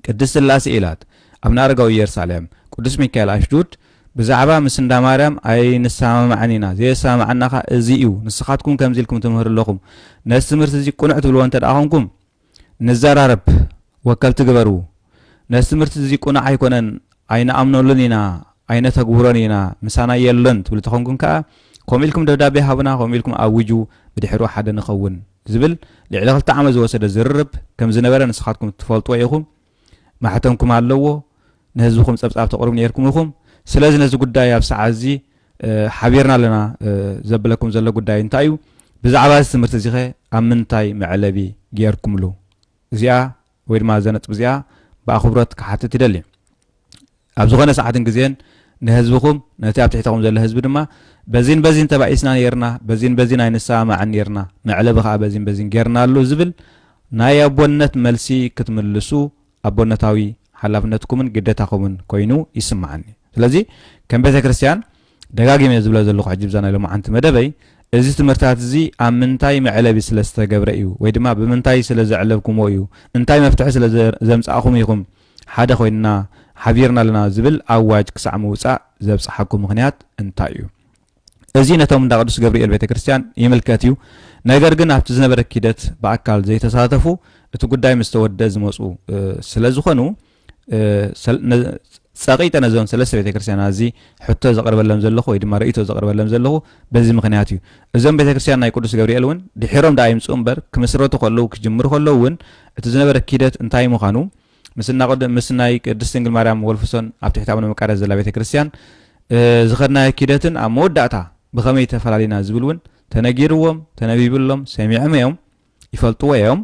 ቅድስት ስላሴ ኢላት ኣብነ ኣረጋዊ ኢየርሳሌም፣ ቅዱስ ሚካኤል ኣሽዱድ ብዛዕባ ምስ እንዳ ማርያም ኣይንሰማማዕን ኢና፣ ዘየሰማምዓና ከኣ እዚ እዩ፣ ንስኻትኩም ከምዚ ኢልኩም ትምህሩ ኣለኹም፣ ነዚ ትምህርቲ እዚ ቅኑዕ ትብልዎ እንተደኣ ኾንኩም፣ ንዘራረብ ወከልቲ ግበሩ ነዚ ትምህርቲ እዚ ቁኑዕ ኣይኮነን ኣይንኣምነሉን ኢና ኣይነተግብሮን ኢና ምሳና የሎን ትብሉ ተኾንኩም ከኣ ከምኡ ኢልኩም ደብዳቤ ሃቡና ከምኡ ኢልኩም ኣውጁ ብድሕሩ ሓደ ንኸውን ዝብል ልዕሊ ክልተ ዓመት ዝወሰደ ዝርርብ ከምዝነበረ ንስኻትኩም ትፈልጥዎ ኢኹም ማሕተምኩም ኣለዎ፣ ንህዝብኹም ጸብጻብ ተቕርቡ ነይርኩም ኢኹም፣ ስለዚ ነዚ ጉዳይ ኣብ ሰዓት እዚ ሓቢርና ኣለና ዘብለኩም ዘሎ ጉዳይ እንታይ እዩ? ብዛዕባ እዚ ትምህርቲ እዚኸ ኣብ ምንታይ መዕለቢ ገይርኩምሉ? እዚኣ ወይ ድማ እዛ ነጥቢ እዚኣ ብኣኽብሮት ክሓትት ይደሊ። ኣብ ዝኾነ ሰዓትን ግዜን ንህዝብኹም ነቲ ኣብ ትሕተኹም ዘሎ ህዝቢ ድማ በዚን በዚን ተባኢስና ኔርና፣ በዚን በዚን ኣይንሰማማዕን ኔርና፣ መዕለቢ ከኣ በዚን በዚን ጌርናሉ ዝብል ናይ ኣቦነት መልሲ ክትምልሱ ኣቦነታዊ ሓላፍነትኩምን ግደታኹምን ኮይኑ ይስመዓኒ። ስለዚ ከም ቤተ ክርስቲያን ደጋጊመ እየ ዝብሎ ዘለኹ ሕጂ ብዛ ናይ ሎማዓንቲ መደበይ እዚ ትምህርታት እዚ ኣብ ምንታይ መዕለቢ ስለ ዝተገብረ እዩ ወይ ድማ ብምንታይ ስለ ዘዕለብኩምዎ እዩ እንታይ መፍትሒ ስለ ዘምጻእኹም ኢኹም ሓደ ኮይንና ሓቢርና ኣለና ዝብል ኣዋጅ ክሳዕ ምውጻእ ዘብጽሓኩም ምኽንያት እንታይ እዩ? እዚ ነቶም እንዳ ቅዱስ ገብርኤል ቤተ ክርስቲያን ይምልከት እዩ፣ ነገር ግን ኣብቲ ዝነበረ ኪደት ብኣካል ዘይተሳተፉ እቲ ጉዳይ ምስ ተወድደ ዝመጹ ስለ ዝኾኑ ጸቂጠ ነዞን ሰለስተ ቤተ ክርስቲያናት እዚ ሕቶ ዘቕርበሎም ዘለኹ ወይ ድማ ርእይቶ ዘቕርበሎም ዘለኹ በዚ ምክንያት እዩ። እዞም ቤተ ክርስቲያን ናይ ቅዱስ ገብርኤል እውን ድሒሮም ደኣ ይምጽኡ እምበር ክምስረቱ ከለዉ ክጅምሩ ከለዉ እውን እቲ ዝነበረ ኪደት እንታይ ምዃኑ ምስ እናቐድ ምስ ናይ ቅድስት ድንግል ማርያም ወልፍሶን ኣብ ትሕቲ ኣቡነ መቃርያስ ዘላ ቤተ ክርስቲያን ዝኸድናዮ ኪደትን ኣብ መወዳእታ ብኸመይ ተፈላሊና ዝብል እውን ተነጊርዎም ተነቢብሎም ሰሚዕም እዮም ይፈልጥዎ እዮም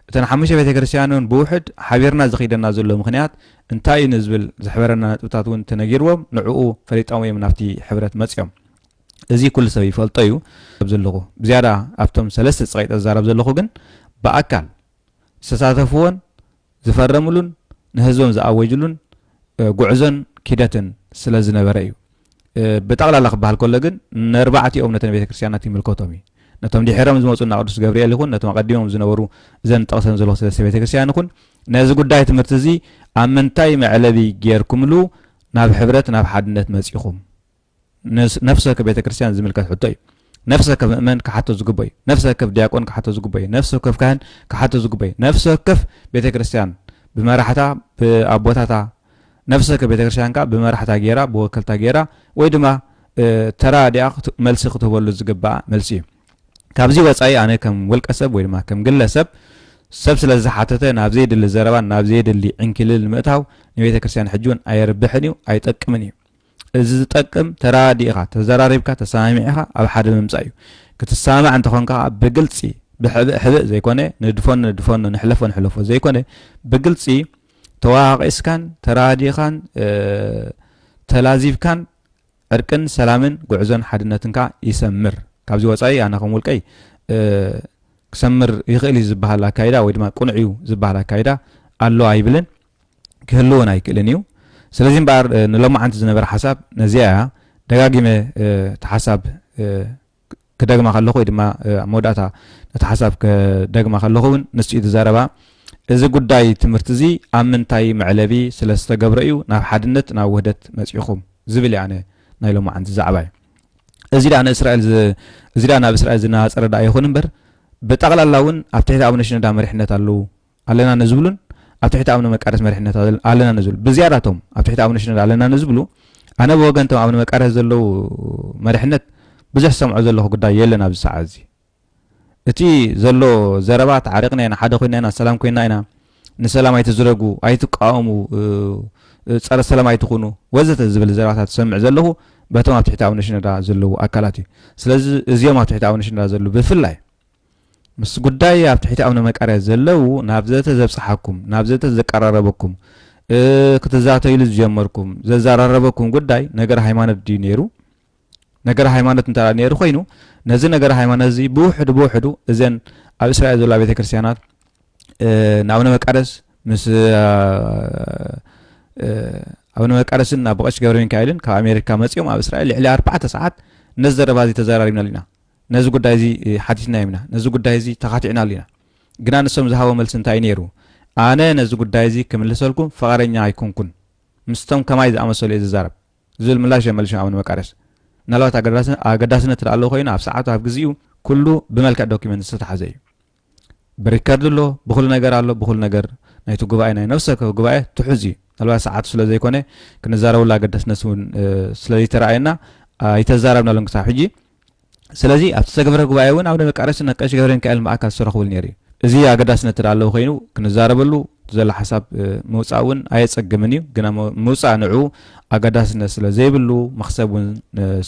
እተን ሓሙሽተ ቤተ ክርስቲያን እውን ብውሕድ ሓቢርና ዝኸይደና ዘሎ ምክንያት እንታይ እዩ ንዝብል ዝሕበረና ነጥብታት እውን ተነጊርዎም ንዕኡ ፈሊጦም እዮም ናብቲ ሕብረት መፅኦም እዚ ኩሉ ሰብ ይፈልጦ እዩ። ዘለኹ ብዝያዳ ኣብቶም ሰለስተ ጸቂጠ ዝዛረብ ዘለኹ ግን ብኣካል ዝተሳተፍዎን ዝፈረምሉን ንህዝቦም ዝኣወጅሉን ጉዕዞን ኪደትን ስለ ዝነበረ እዩ። ብጠቕላላ ክበሃል ከሎ ግን ነርባዕቲኦም ነተን ቤተ ክርስቲያናት ይምልከቶም እዩ። ነቶም ድሒሮም ዝመፁ እና ቅዱስ ገብርኤል ይኹን ነቶም ኣቐዲሞም ዝነበሩ እዘን ጠቕሰን ዘለኹ ሰለስተ ቤተ ክርስቲያን ይኹን ነዚ ጉዳይ ትምህርቲ እዚ ኣብ ምንታይ መዕለቢ ጌርኩምሉ ናብ ሕብረት ናብ ሓድነት መፂኹም ነፍሲ ወከፍ ቤተ ክርስቲያን ዝምልከት ሕቶ እዩ። ነፍሲ ወከፍ ምእመን ክሓቶ ዝግበ እዩ። ነፍሲ ወከፍ ዲያቆን ክሓቶ ዝግበ እዩ። ነፍሲ ወከፍ ካህን ክሓቶ ዝግበ እዩ። ነፍሲ ወከፍ ቤተ ክርስቲያን ብመራሕታ ብኣቦታታ ነፍሲ ወከፍ ቤተ ክርስቲያን ከዓ ብመራሕታ ገይራ ብወከልታ ገይራ ወይ ድማ ተራ ዲኣ መልሲ ክትህበሉ ዝግባኣ መልሲ እዩ። ካብዚ ወፃኢ ኣነ ከም ውልቀ ሰብ ወይ ድማ ከም ግለሰብ ሰብ ስለ ዝሓተተ ናብ ዘይድሊ ዘረባን ናብ ዘይድሊ ዕንኪልል ምእታው ንቤተ ክርስትያን ሕጂ እውን ኣየርብሕን እዩ ኣይጠቅምን እዩ እዚ ዝጠቅም ተራዲእኻ ተዘራሪብካ ተሰማሚዕኻ ኣብ ሓደ ምምጻእ እዩ። ክትሰማማዕ እንተኾንካ ከኣ ብግልጺ ብሕብእ ሕብእ ዘይኮነ ንድፎኖ ንድፎኖ ንሕለፎ ንሕለፎ ዘይኮነ ብግልጺ ተዋቃቂስካን ተራዲእኻን ተላዚብካን ዕርቅን ሰላምን ጉዕዞን ሓድነትን ከኣ ይሰምር። ካብዚ ወጻኢ ኣነ ከም ውልቀይ ክሰምር ይኽእል እዩ ዝበሃል ኣካይዳ ወይ ድማ ቅኑዕ እዩ ዝበሃል ኣካይዳ ኣሎ ኣይብልን። ክህልውን ኣይክእልን እዩ። ስለዚ እምበኣር ንሎማዓንቲ ዝነበረ ሓሳብ ነዚኣ እያ። ደጋጊመ እቲ ሓሳብ ክደግማ ከለኹ ወይ ድማ ኣብ መወዳእታ ነቲ ሓሳብ ክደግማ ከለኹ እውን ንሱ እዩ ዝዛረባ እዚ ጉዳይ ትምህርቲ እዚ ኣብ ምንታይ መዕለቢ ስለ ዝተገብረ እዩ ናብ ሓድነት ናብ ውህደት መፂኹም ዝብል እዩ ኣነ ናይ ሎማዓንቲ ዛዕባ እዩ። እዚ ደኣ ንእስራኤል እዚ ደኣ ናብ እስራኤል ዝነፃፀረ ደኣ ይኹን እምበር ብጠቕላላ እውን ኣብ ትሕቲ ኣቡነ ሽኖዳ መሪሕነት ኣለዉ ኣለና ንዝብሉን ኣብ ትሕቲ ኣብነ መቃደስ መሪሕነት ኣለና ንዝብሉ ብዝያዳ እቶም ኣብ ትሕቲ ኣብነ ሽነድ ኣለና ንዝብሉ ኣነ ብወገን እቶም ኣብነ መቃደስ ዘለዉ መሪሕነት ብዙሕ ዝሰምዖ ዘለኹ ጉዳይ የለን ኣብዚ ሰዓት እዚ እቲ ዘሎ ዘረባ ተዓሪቕና ኢና ሓደ ኮይና ኢና ሰላም ኮይና ኢና ንሰላም ኣይትዝረጉ ኣይትቃወሙ ፀረ ሰላም ኣይትኹኑ ወዘተ ዝብል ዘረባታት ዝሰምዕ ዘለኹ በቶም ኣብ ትሕቲ ኣብነ ሽነዳ ዘለዉ ኣካላት እዩ ስለዚ እዚኦም ኣብ ትሕቲ ኣብነ ሽነዳ ዘለዉ ብፍላይ ምስ ጉዳይ ኣብ ትሕቲ ኣቡነ መቃርያስ ዘለው ናብ ዘተ ዘብጽሓኩም ናብ ዘተ ዘቀራረበኩም ክትዛተይሉ ዝጀመርኩም ዘዘራረበኩም ጉዳይ ነገር ሃይማኖት ድዩ ነይሩ ነገር ሃይማኖት እንተ ነይሩ ኮይኑ ነዚ ነገር ሃይማኖት እዚ ብውሕዱ ብውሕዱ እዘን ኣብ እስራኤል ዘላ ቤተ ክርስትያናት ንኣብነ መቃደስ ምስ ኣብነ መቃደስን ናብ ብቐሽ ገብረ ሚካኤልን ካብ ኣሜሪካ መፂኦም ኣብ እስራኤል ልዕሊ ኣርባዕተ ሰዓት ነዚ ዘረባ እዚ ተዘራሪብናሉ ኢና ነዚ ጉዳይ እዚ ሓቲትናዮም ኢና፣ ነዚ ጉዳይ እዚ ተኻቲዕናሉ ኢና። ግና ንሶም ዝሃቦ መልሲ እንታይ እዩ ነይሩ? ኣነ ነዚ ጉዳይ እዚ ክምልሰልኩም ፍቓደኛ ኣይኮንኩን፣ ምስቶም ከማይ ዝኣመሰሉ እየ ዝዛረብ ዝብል ምላሽ እዮም መሊሶም ኣቡነ መቃርዮስ። ምናልባት ኣገዳስነት እንተደኣ ኣለዎ ኮይኑ ኣብ ሰዓቱ ኣብ ግዜኡ ኩሉ ብመልክዕ ዶክመንት ዝተታሕዘ እዩ። ብሪከርድ ኣሎ ብኹሉ ነገር ኣሎ ብኹሉ ነገር ናይቲ ጉባኤ ናይ ነፍሲ ወከፍ ጉባኤ ትሑዝ እዩ ምናልባት ሰዓቱ ስለ ዘይኮነ ክንዛረበሉ ኣገዳስነት እውን ስለዘይተረኣየና ኣይተዛረብናሉን ክሳብ ሕጂ ስለዚ ኣብቲ ዝተገብረ ጉባኤ እውን ኣብ ነመቃረሲ ነቀሽ ገብረ ሚካኤል ማእካል ዝተረኽቡሉ ነይሩ እዩ እዚ ኣገዳስነት እዳ ኣለዎ ኮይኑ ክንዛረበሉ ዘሎ ሓሳብ ምውፃእ እውን ኣየፀግምን እዩ ግና ምውፃእ ንዑ ኣገዳስነት ስለ ዘይብሉ መክሰብ እውን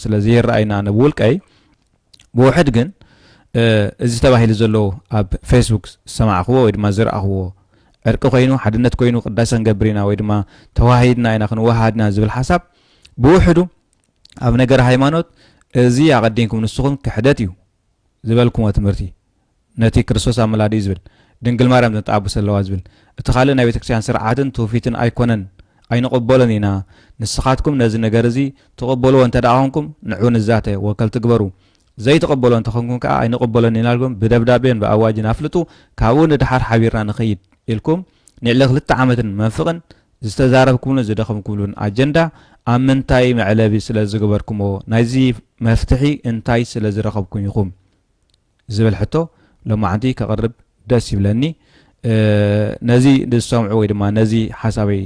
ስለ ዘይረኣይና ነብውልቀይ ብውሕድ ግን እዚ ተባሂሉ ዘሎ ኣብ ፌስቡክ ዝሰማዕኽዎ ወይ ድማ ዝረኣኽዎ ዕርቂ ኮይኑ ሓድነት ኮይኑ ቅዳሰ ክንገብር ኢና ወይ ድማ ተዋሂድና ኢና ክንወሃሃድ ኢና ዝብል ሓሳብ ብውሕዱ ኣብ ነገር ሃይማኖት እዚ ኣቐዲምኩም ንስኹም ክሕደት እዩ ዝበልኩሞ ትምህርቲ ነቲ ክርስቶስ ኣመላዲኡ ዝብል፣ ድንግል ማርያም ዘንጠዓቡሰ ኣለዋ ዝብል፣ እቲ ካልእ ናይ ቤተክርስቲያን ስርዓትን ትውፊትን ኣይኮነን፣ ኣይንቕበሎን ኢና፣ ንስኻትኩም ነዚ ነገር እዚ ትቕበልዎ እንተድኣ ኮንኩም ንዑ ንዛተ፣ ወከልቲ ግበሩ፣ ዘይትቕበልዎ እንተኾንኩም ከኣ ኣይንቕበሎን ኢና ኢልኩም ብደብዳቤን ብኣዋጅን ኣፍልጡ፣ ካብኡ ንደሓር ሓቢርና ንኸይድ ኢልኩም ንልዕሊ ክልተ ዓመትን መንፍቕን ዝተዛረብኩምሉን ዝደኸምኩምሉን ኣጀንዳ ኣብ ምንታይ መዕለቢ ስለዝገበርኩምዎ፣ ናይዚ መፍትሒ እንታይ ስለዝረኸብኩም ኢኹም? ዝብል ሕቶ ሎማዓንቲ ከቕርብ ደስ ይብለኒ። ነዚ ዝሰምዑ ወይ ድማ ነዚ ሓሳበይ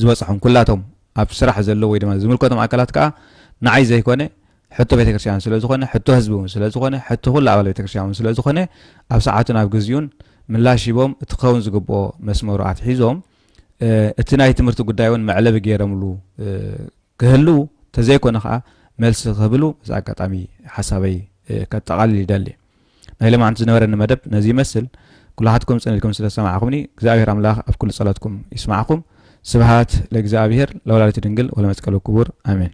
ዝበጽሖም ኩላቶም ኣብ ስራሕ ዘለዉ ወይ ድማ ዝምልከቶም ኣካላት ከዓ ንዓይ ዘይኮነ ሕቶ ቤተክርስትያን ስለ ዝኾነ ሕቶ ህዝቢ እውን ስለ ዝኾነ ሕቶ ኩሉ ኣባል ቤተክርስትያን እውን ስለ ዝኾነ ኣብ ሰዓቱን ኣብ ግዜኡን ምላሽ ሂቦም እቲ ክኸውን ዝግብኦ መስመሩ ኣትሒዞም እቲ ናይ ትምህርቲ ጉዳይ እውን መዕለቢ ገይረምሉ ክህልው ተዘይኮነ ከኣ መልሲ ክህብሉ በዚ ኣጋጣሚ ሓሳበይ ከጠቓልል ይደሊ። ናይ ሎማዕንቲ ዝነበረኒ መደብ ነዚ ይመስል። ኩላሓትኩም ጽን ኢልኩም ስለ ዝሰማዕኩምኒ እግዚኣብሔር ኣምላኽ ኣብ ኩሉ ጸሎትኩም ይስማዕኩም። ስብሃት ለእግዚኣብሔር ለወላዲቱ ድንግል ወለመስቀሉ ክቡር ኣሜን።